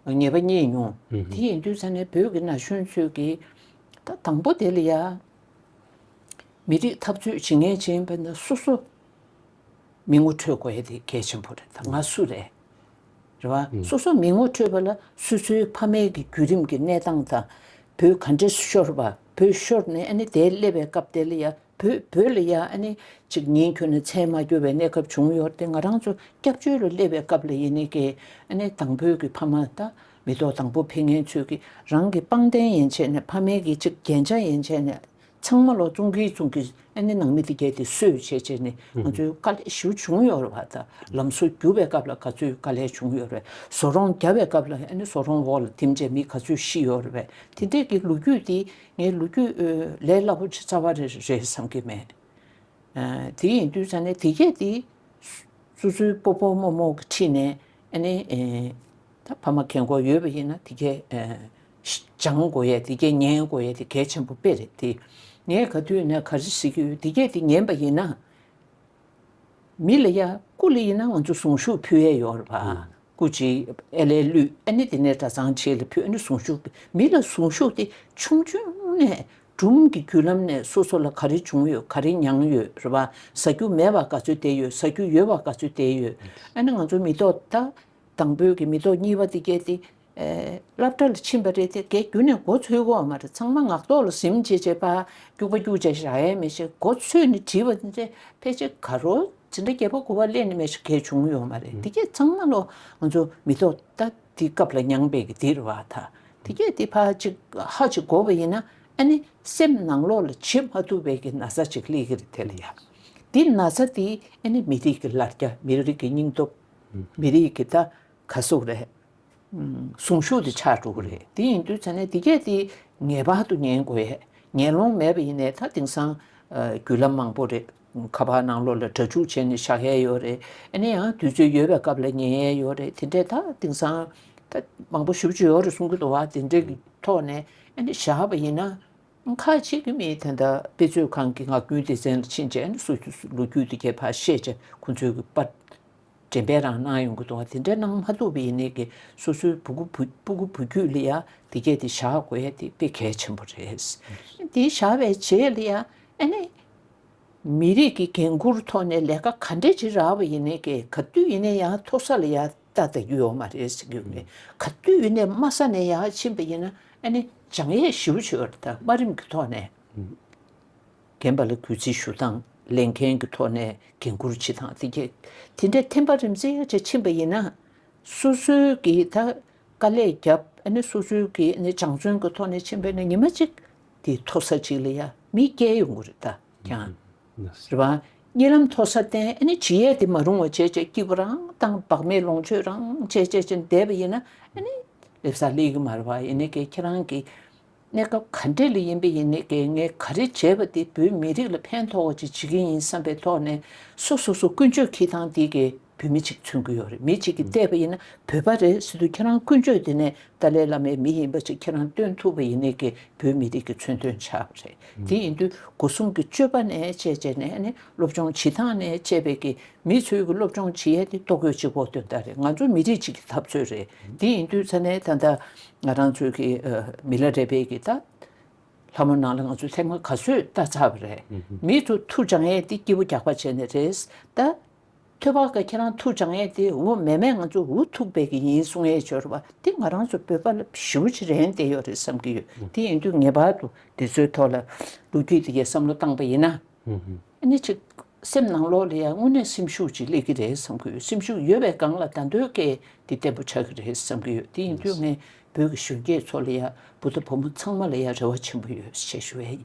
ངེས་པ་རྙེད་མྱོང། དེ་ཡིན་དུས་ས་གནས་བོད་ཀྱི་ན་གཞོན་ཚོས་ཀྱི་ད་དང་པོ་དེ་ལ་ཡ། མི་རིགས་འཐབ་རྩོད་བྱེད་ངེས་ཅན་པ་ན་སོ་སོ་མི་ངོ་འཕྲོད་དགོས་ཡ་དེ་གལ་ཆེན་པོ་རེད་ད་ང་སུ་རེད། རེད་བ། སོ་སོ་མི་ངོ་འཕྲོད་པ་ལ་སོ་སོའི་ཕ་མེས་ཀྱི་བརྒྱུད་རིམ་གྱི་གནས་སྟངས་དང་བུ་ག་འདྲས་སུ་ཤོར་བ་བུ་ཤོར་ནས་ཨ་ནི་དེ་སླེབས་པའི་སྐབས་དེ་ལ་ཡ་བོད་བོད་ལ་ཡ་ཨ་ནི་ཅིག་ཉིན་ཁྱོད་ནི་མཚན་མ་རྒྱུ་བའི་གནས་སྐབས་བྱུང་ཡོད་དེ་ང་རང་ཚོ་སྐྱབས་བཅོལ་ལོ་སླེབས་པའི་སྐབས་ལ་ཡེ་ནས་ཀྱི་ཨ་ནི་དང་བོད་ཀྱི་ཕ་མ་ད་མི་ཐོག་དང་བོ་ཕི་ངན་ཚོས་ཀྱི་རང་གི་པང་གདན་ཡན་ཆད་ནས་ཕ་མེས་ཀྱི་ཅིག་རྒྱན་ཆ་ཡན་ཆད་ནས་ཚང་མ་ལོག་ཙུང་གིས་ཙུང་གིས་ཨ་ནི་ནང་མི་དེ་རྒྱལ་དེ་གསོས་བྱས་བྱས་ནས་ང་ཚོའི་དཀའ་ལས་ཞུ་བྱུང་ཡོད་རེད་བ་ད་ལམ་སོ་རྒྱུ་བའི་སྐབས་ལ་ག་ཚོད་དཀའ་ལས་བྱུང་ཡོད་རེད་སོ་རོང་རྒྱ་བའི་སྐབས་ལ་ཨ་ནི་སོ་རོང་འོག་ལ་དེམ་བྱས་མི་ག་ཚོད་ཤི་ཡོད་རེད་བས་དེ་འདྲས་ཀྱི་ལོ་རྒྱུས་དེ་ངའི་ལོ་རྒྱུས་ལས་སླ་པོ་ཆེ་རྩ་བ་རེ་རེ་རེད་བསམ་གྱི་མེད། དེ་ཡིན་དུས་ད་ནི་དེ་སྐད་དེ། སུ་སུའི་སྤོ་སྤོ་མོ་མོ་གི་འཁྲིས་ནས་ཨ་ནི། ད་ཕ་མ་གལ་མགོ་ཡོད་པ་ཡིན་ན་དེ་སྐད། སྦྱང་དགོས་ཡས་དེ་སྐད་ཉན་དགོས་ཡས་དེ་གལ་ཆེན་པོ་དཔེ་རེད་དེ། ངས་ག་དུས་ནས་ག་རེ་ཟེར་གྱི་ཡོད་དེ་སྐད་དེ་ཉན་པ་ཡིན་ན། མི་ལ་ཡ་སྐུ་ལ་ཡིན་ན་ང་ཚོ་གཟུངས་ཞུགས་ཕུལ་ཡས་ཡོད་རེད་པ། སྐུ་གཅིག་ཨེ་ལས་བླུས་ཨེ་ནི་དེ་ནས་གྲ་ཚང་ཆེ་ལ་ཕུལ་ཨེ་ནི་གཟུངས་ཞུགས་མི་ལ་གཟུངས་ཞུགས་དེ་ཆུང་ཆུང་ནས་སྦྲུམ་གྱི་རྒྱུད་ལམ་ནས་སོ་སོ་ལ་ག་རེ་བྱུང་ཡོད་ག་རེ་མྱངས་ཡོད་རེད་པ་ཟ་རྒྱུ་མེད་པ་ག་ཚོད་བསྡད་ཡོད་ཟ་རྒྱུ་ཡོད་པ་ག་ཚོད་བསྡད་ཡོད་ཨེ་ནི་ང་ཚོ་མི་ཐོག་ད་དང་པོའི་གི་མི་ཐོག་གཉིས་པ་དེ་སྐྱེས་ཏེ། བསླབ་གྲྭ་ལ་ཕྱིན་པ་རེད་དེ་གས་གྱུ་ནས་མགོ་ཚོས་གོ་བ་མ་རེད་ཚང་མ་ངག་ཐོག་ལ་གཟིམ་བྱེད་བྱེད་པ་སྐྱུག་པ་སྐྱུག་བྱ་ཞག་ཡས་མས་བྱེད་མགོ་ཚོས་ནས་བྲིས་པ་འདི་ཕལ་ཆེར་ག་རོ་ཇི་འདྲ་རྒྱས་པ་གོ་བ་གླེང་ནས་མས་ཞག་གས་བྱུང་ཡོད་མ་རེད་དེ་སྐྱེས་ཚང་མ་ལོ་ང་ཚོ་མི་ཐོག་ད་དེ་སྐབས་ལ་མྱངས་པའི་གི་དེར་བ་ད་དེ་སྐྱེས་དེ་ཕ་ཅིག་ཧ་ཅིག་གོ་བ་ཡིན་ན་ཨ་ནི་སེམས་ནང་ལོག་ལ་བྱེད་མ་ཐུབ་པའི་གི་ན་ཚ་ཅིག་གླེགས་གི་རེད་དེ་ལ་ཡ་དེ་ན་ཚ་དེ་ཨ་ནི་མི་རིགས་གི་ལར་རྒྱ་མི་རིགས་གི་སྙིང་སྟོབས། མི་རིགས་ཀྱི་ད་ག་གཟུགས་རེད། གཟུངས་གཞུག་དེ་ཆགས་འགྲོ་གི་རེད་དེ་ཡིན་དུས་ཚེ་ན་དེ་གས་དེ་ངེས་པར་དུ་ཉན་དགོས་ཡས་ཉན་ལོང་མེད་པ་ཡིན་ནས་ད་དེང་སང་རྒྱུད་ལམ་མང་པོ་རེད་ཁ་པར་ནང་ལོག་ལ་དྲ་འཇུག་བྱས་ནས་བཞག་ཡས་ཡོད་རེད་ཨ་ནི་ཡང་དུས་ཚོད་ཡོལ་བའི་སྐབས་ལ་ཉན་ཡས་ཡོད་རེད་དེ་འདྲས་ད་དེང་སང་ད་མང་པོ་ཞུབ་ཅིག་ཡོད་རེད་གསུང་གི་འདུག་བ་དེ་འདྲས་ཀྱི་ཐོག་ནས་ཨ་ནི་བཞག་པ་ཡིན་ན། ཁ་ཅིག་གིས་མི་དེ་འདྲ་དཔེ་མཛོད་ཁང་གི་ངག་རྒྱུན་སྡེ་ཚན་ལ་ཕྱིན་རྗེས་ནས་སུ་ཞིག་ལོ་རྒྱུས་དེ་གས་པར་བཤད་ཅེས་ཁོ་ཚོའི་གུས་པ་འདྲེན་པའི་རང་སྣང་ཡོང་གི་འདུག་དེ་འདྲ་གནང་མ་ཐུབ་པ་ཡིན་ནའི་གི་སོ་སོའི་བུ་གུ་སྤུ་གུ་བུ་རྒྱུད་ལ་ཡང་དེ་སྐད་དེ་བཞག་དགོས་ཡ་དེ་དཔེ་གལ་ཆེན་པོ་རེད། དེ་བཞག་པའི་རྗེས་ལ་ཡང་ཨ་ནི་མི་རིགས་ཀྱི་འགན་ཁུར་ཐོག་ནས་ལས་ཀ་ག་འདྲས་བྱེད་རག་པ་ཡིན་ནའི་གི་ག་དུས་ཡིན་ནའི་ཡང་མཐོ་ས་ལ་ཡང་ད་ལྟ་ཡོད་ཡོད་མ་རེད་ཟེར་གྱི་ཡོད་ག་དུས་ཡིན་ནའི་དམའ་ས་ནས་ཡང་ཕྱིན་པ་ཡིན་ན་ཨ་ནི་བྱང་ཡས་ཞིའུ་ཆོས་བར་དང་དམའ་རིམ་གྱི་ཐོག་ནས་རྒན་པ་ལ་གུས་བརྩི་ཞུ་དང་ལས་མཁན་གྱི་ཐོག་ནས་འགན་བསྐུར་བྱེད་དང་དེ་རྒྱས་དེ་འདྲའི་ཐེམ་པ་རིམ་བརྩེགས་ཅིག་ཕྱིན་པ་ཡིན་ན་སོ་སོའི་གི་ད་དཀའ་ལས་རྒྱབ་ཨ་ནི་སོ་སོའི་གི་ཨ་ནི་སྦྱང་བརྩོན་གྱི་ཐོག་ནས་ཕྱིན་པས་ན་ཉི་མ་གཅིག་དེ་མཐོ་ས་ཅིག་ལ་ཡང་མི་བསྐྱལ་ཡོང་གི་རེད་ད་ཀྱང། རེད་བ། རྙེད་ལམ་མཐོ་ས་བརྟེན་ནས་ཇི་ཡས་དེ་མ་རུང་བ་བྱས་བྱས་སྐྱིད་པོ་རང་བཏང་བག་མེད་ལོངས་སྤྱོད་རང་བྱས་བྱས་བྱས་འདས་པ་ཡིན་ན་སླེབས་ས་སླེབས་ཀྱི་མ་རེད་བ་ཡིན་ནའི་ཁྱེད་རང་གི་གནས་སྐབས་ག་འདྲས་ལ་ཡིན་པ་ཡིན་ནའི་ངས་ག་རེ་བྱས་བ་དེ་བོད་མི་རིགས་ལ་ཕན་ཐོགས་བ་ཅིག་བྱེད་ཀྱི་ཡིན་བསམ་པའི་ཐོག་ནས་སོ་སོ་སོ་ཀུན་སྤྱོད་ཁྱི་ཐང་དེ་གི་བུད་མེད་ཅིག་འཚོལ་གི་ཡོད་རེད་མི་ཅིག་གིས་བལྟས་པ་ཡིན་ན་བོད་པ་རེད་སྲིད་དུ་ཁྱེད་རང་ཀུན་སྤྱོད་དེ་ནས་ཏཱ་ལའི་བླ་མའི་མི་ཡིན་པ་ཅིག་ཁྱེད་རང་སྟོན་ཐུབ་པ་ཡིན་ནི་གི་བོད་མི་རིགས་ཀྱི་མཚོན་དོན་ཆགས་པ་རེད་དེ་ཡིན་དུས་སྒོ་སྲུང་གི་སྤྱོད་པ་ནས་དཔྱད་དཔྱད་ནས་ནི་སློབ་སྦྱོང་བྱེད་སྟངས་ནས་དཔྱད་པས་གི་མི་ཚོས་གི་སློབ་སྦྱོང་བྱེད་ཡས་དེ་ལྟོ་གོས་གཅིག་བོག་དོན་དག་རེད་ང་ཚོ་མི་རིགས་གཅིག་གི་འཐབ་རྩོད་རེད་དེ་ཡིན་དུས་ཚ་ནས་ད་ལྟ་ང་རང་ཚོས་གི་མི་ལ་རས་པས་གི་ད་ལྷ་མོ་ནང་ལ་ང་ཚོས་ཐེངས་མ་ག་ཚོད་ལྟ་ཚར་བ་རེད་མི་ཚོ་ཐུགས་འཇགས་ཡས་དེ་སྐྱིད་པོ་རྒྱག་པ་བྱས་ནི་རེད་ད། ཐོས་པ་ཁྱེད་རང་ཐུགས་འཇགས་ངེས་ཏེ་འོ་མས་མས་ང་ཚོ་འུ་ཐུག་པས་ཀྱི་ཡིན་གསུང་ཡས་འབྱོར་བ་འདི་ང་རང་ཚོ་བོད་པ་ལ་ཞིའུ་ཆེ་རན་ཏེ་ཡོད་རེད་བསམ་གྱི་ཡོད་དེ་ཡིན་དུས་ངེས་པར་དུ་འདི་ཚོའི་ཐོག་ལ་ལོ་རྒྱུས་དེ་གའི་བསམ་བློ་བཏང་པ་ཡིན་ན་ཨ་ནི་ཅིག་སེམས་ནང་ལོགས་ལ་ཡང་དངོས་གནས་སེམས་ཤུགས་ཅིག་སླེབས་ཀྱི་རེད་བསམ་གྱི་ཡོད་སེམས་ཤུགས་ཡོད་པའི་སྒང་ལ་ད་འདོད་སྐད་འདི་བརྟན་པོ་ཆགས་ཀྱི་རེད་བསམ་གྱི་ཡོད་དེ་ཡིན་དུས་ངས་བོད་ཀྱི་གཞོན་སྐྱེས་ཚོ་ལ་ཡང་བུ་དང་བུ་མོ་ཚང་མ་ལ་ཡང་རེ་བ་ཆེན་པོ་ཡོད་བཤད་ཞུ་ཡས་ཡིན།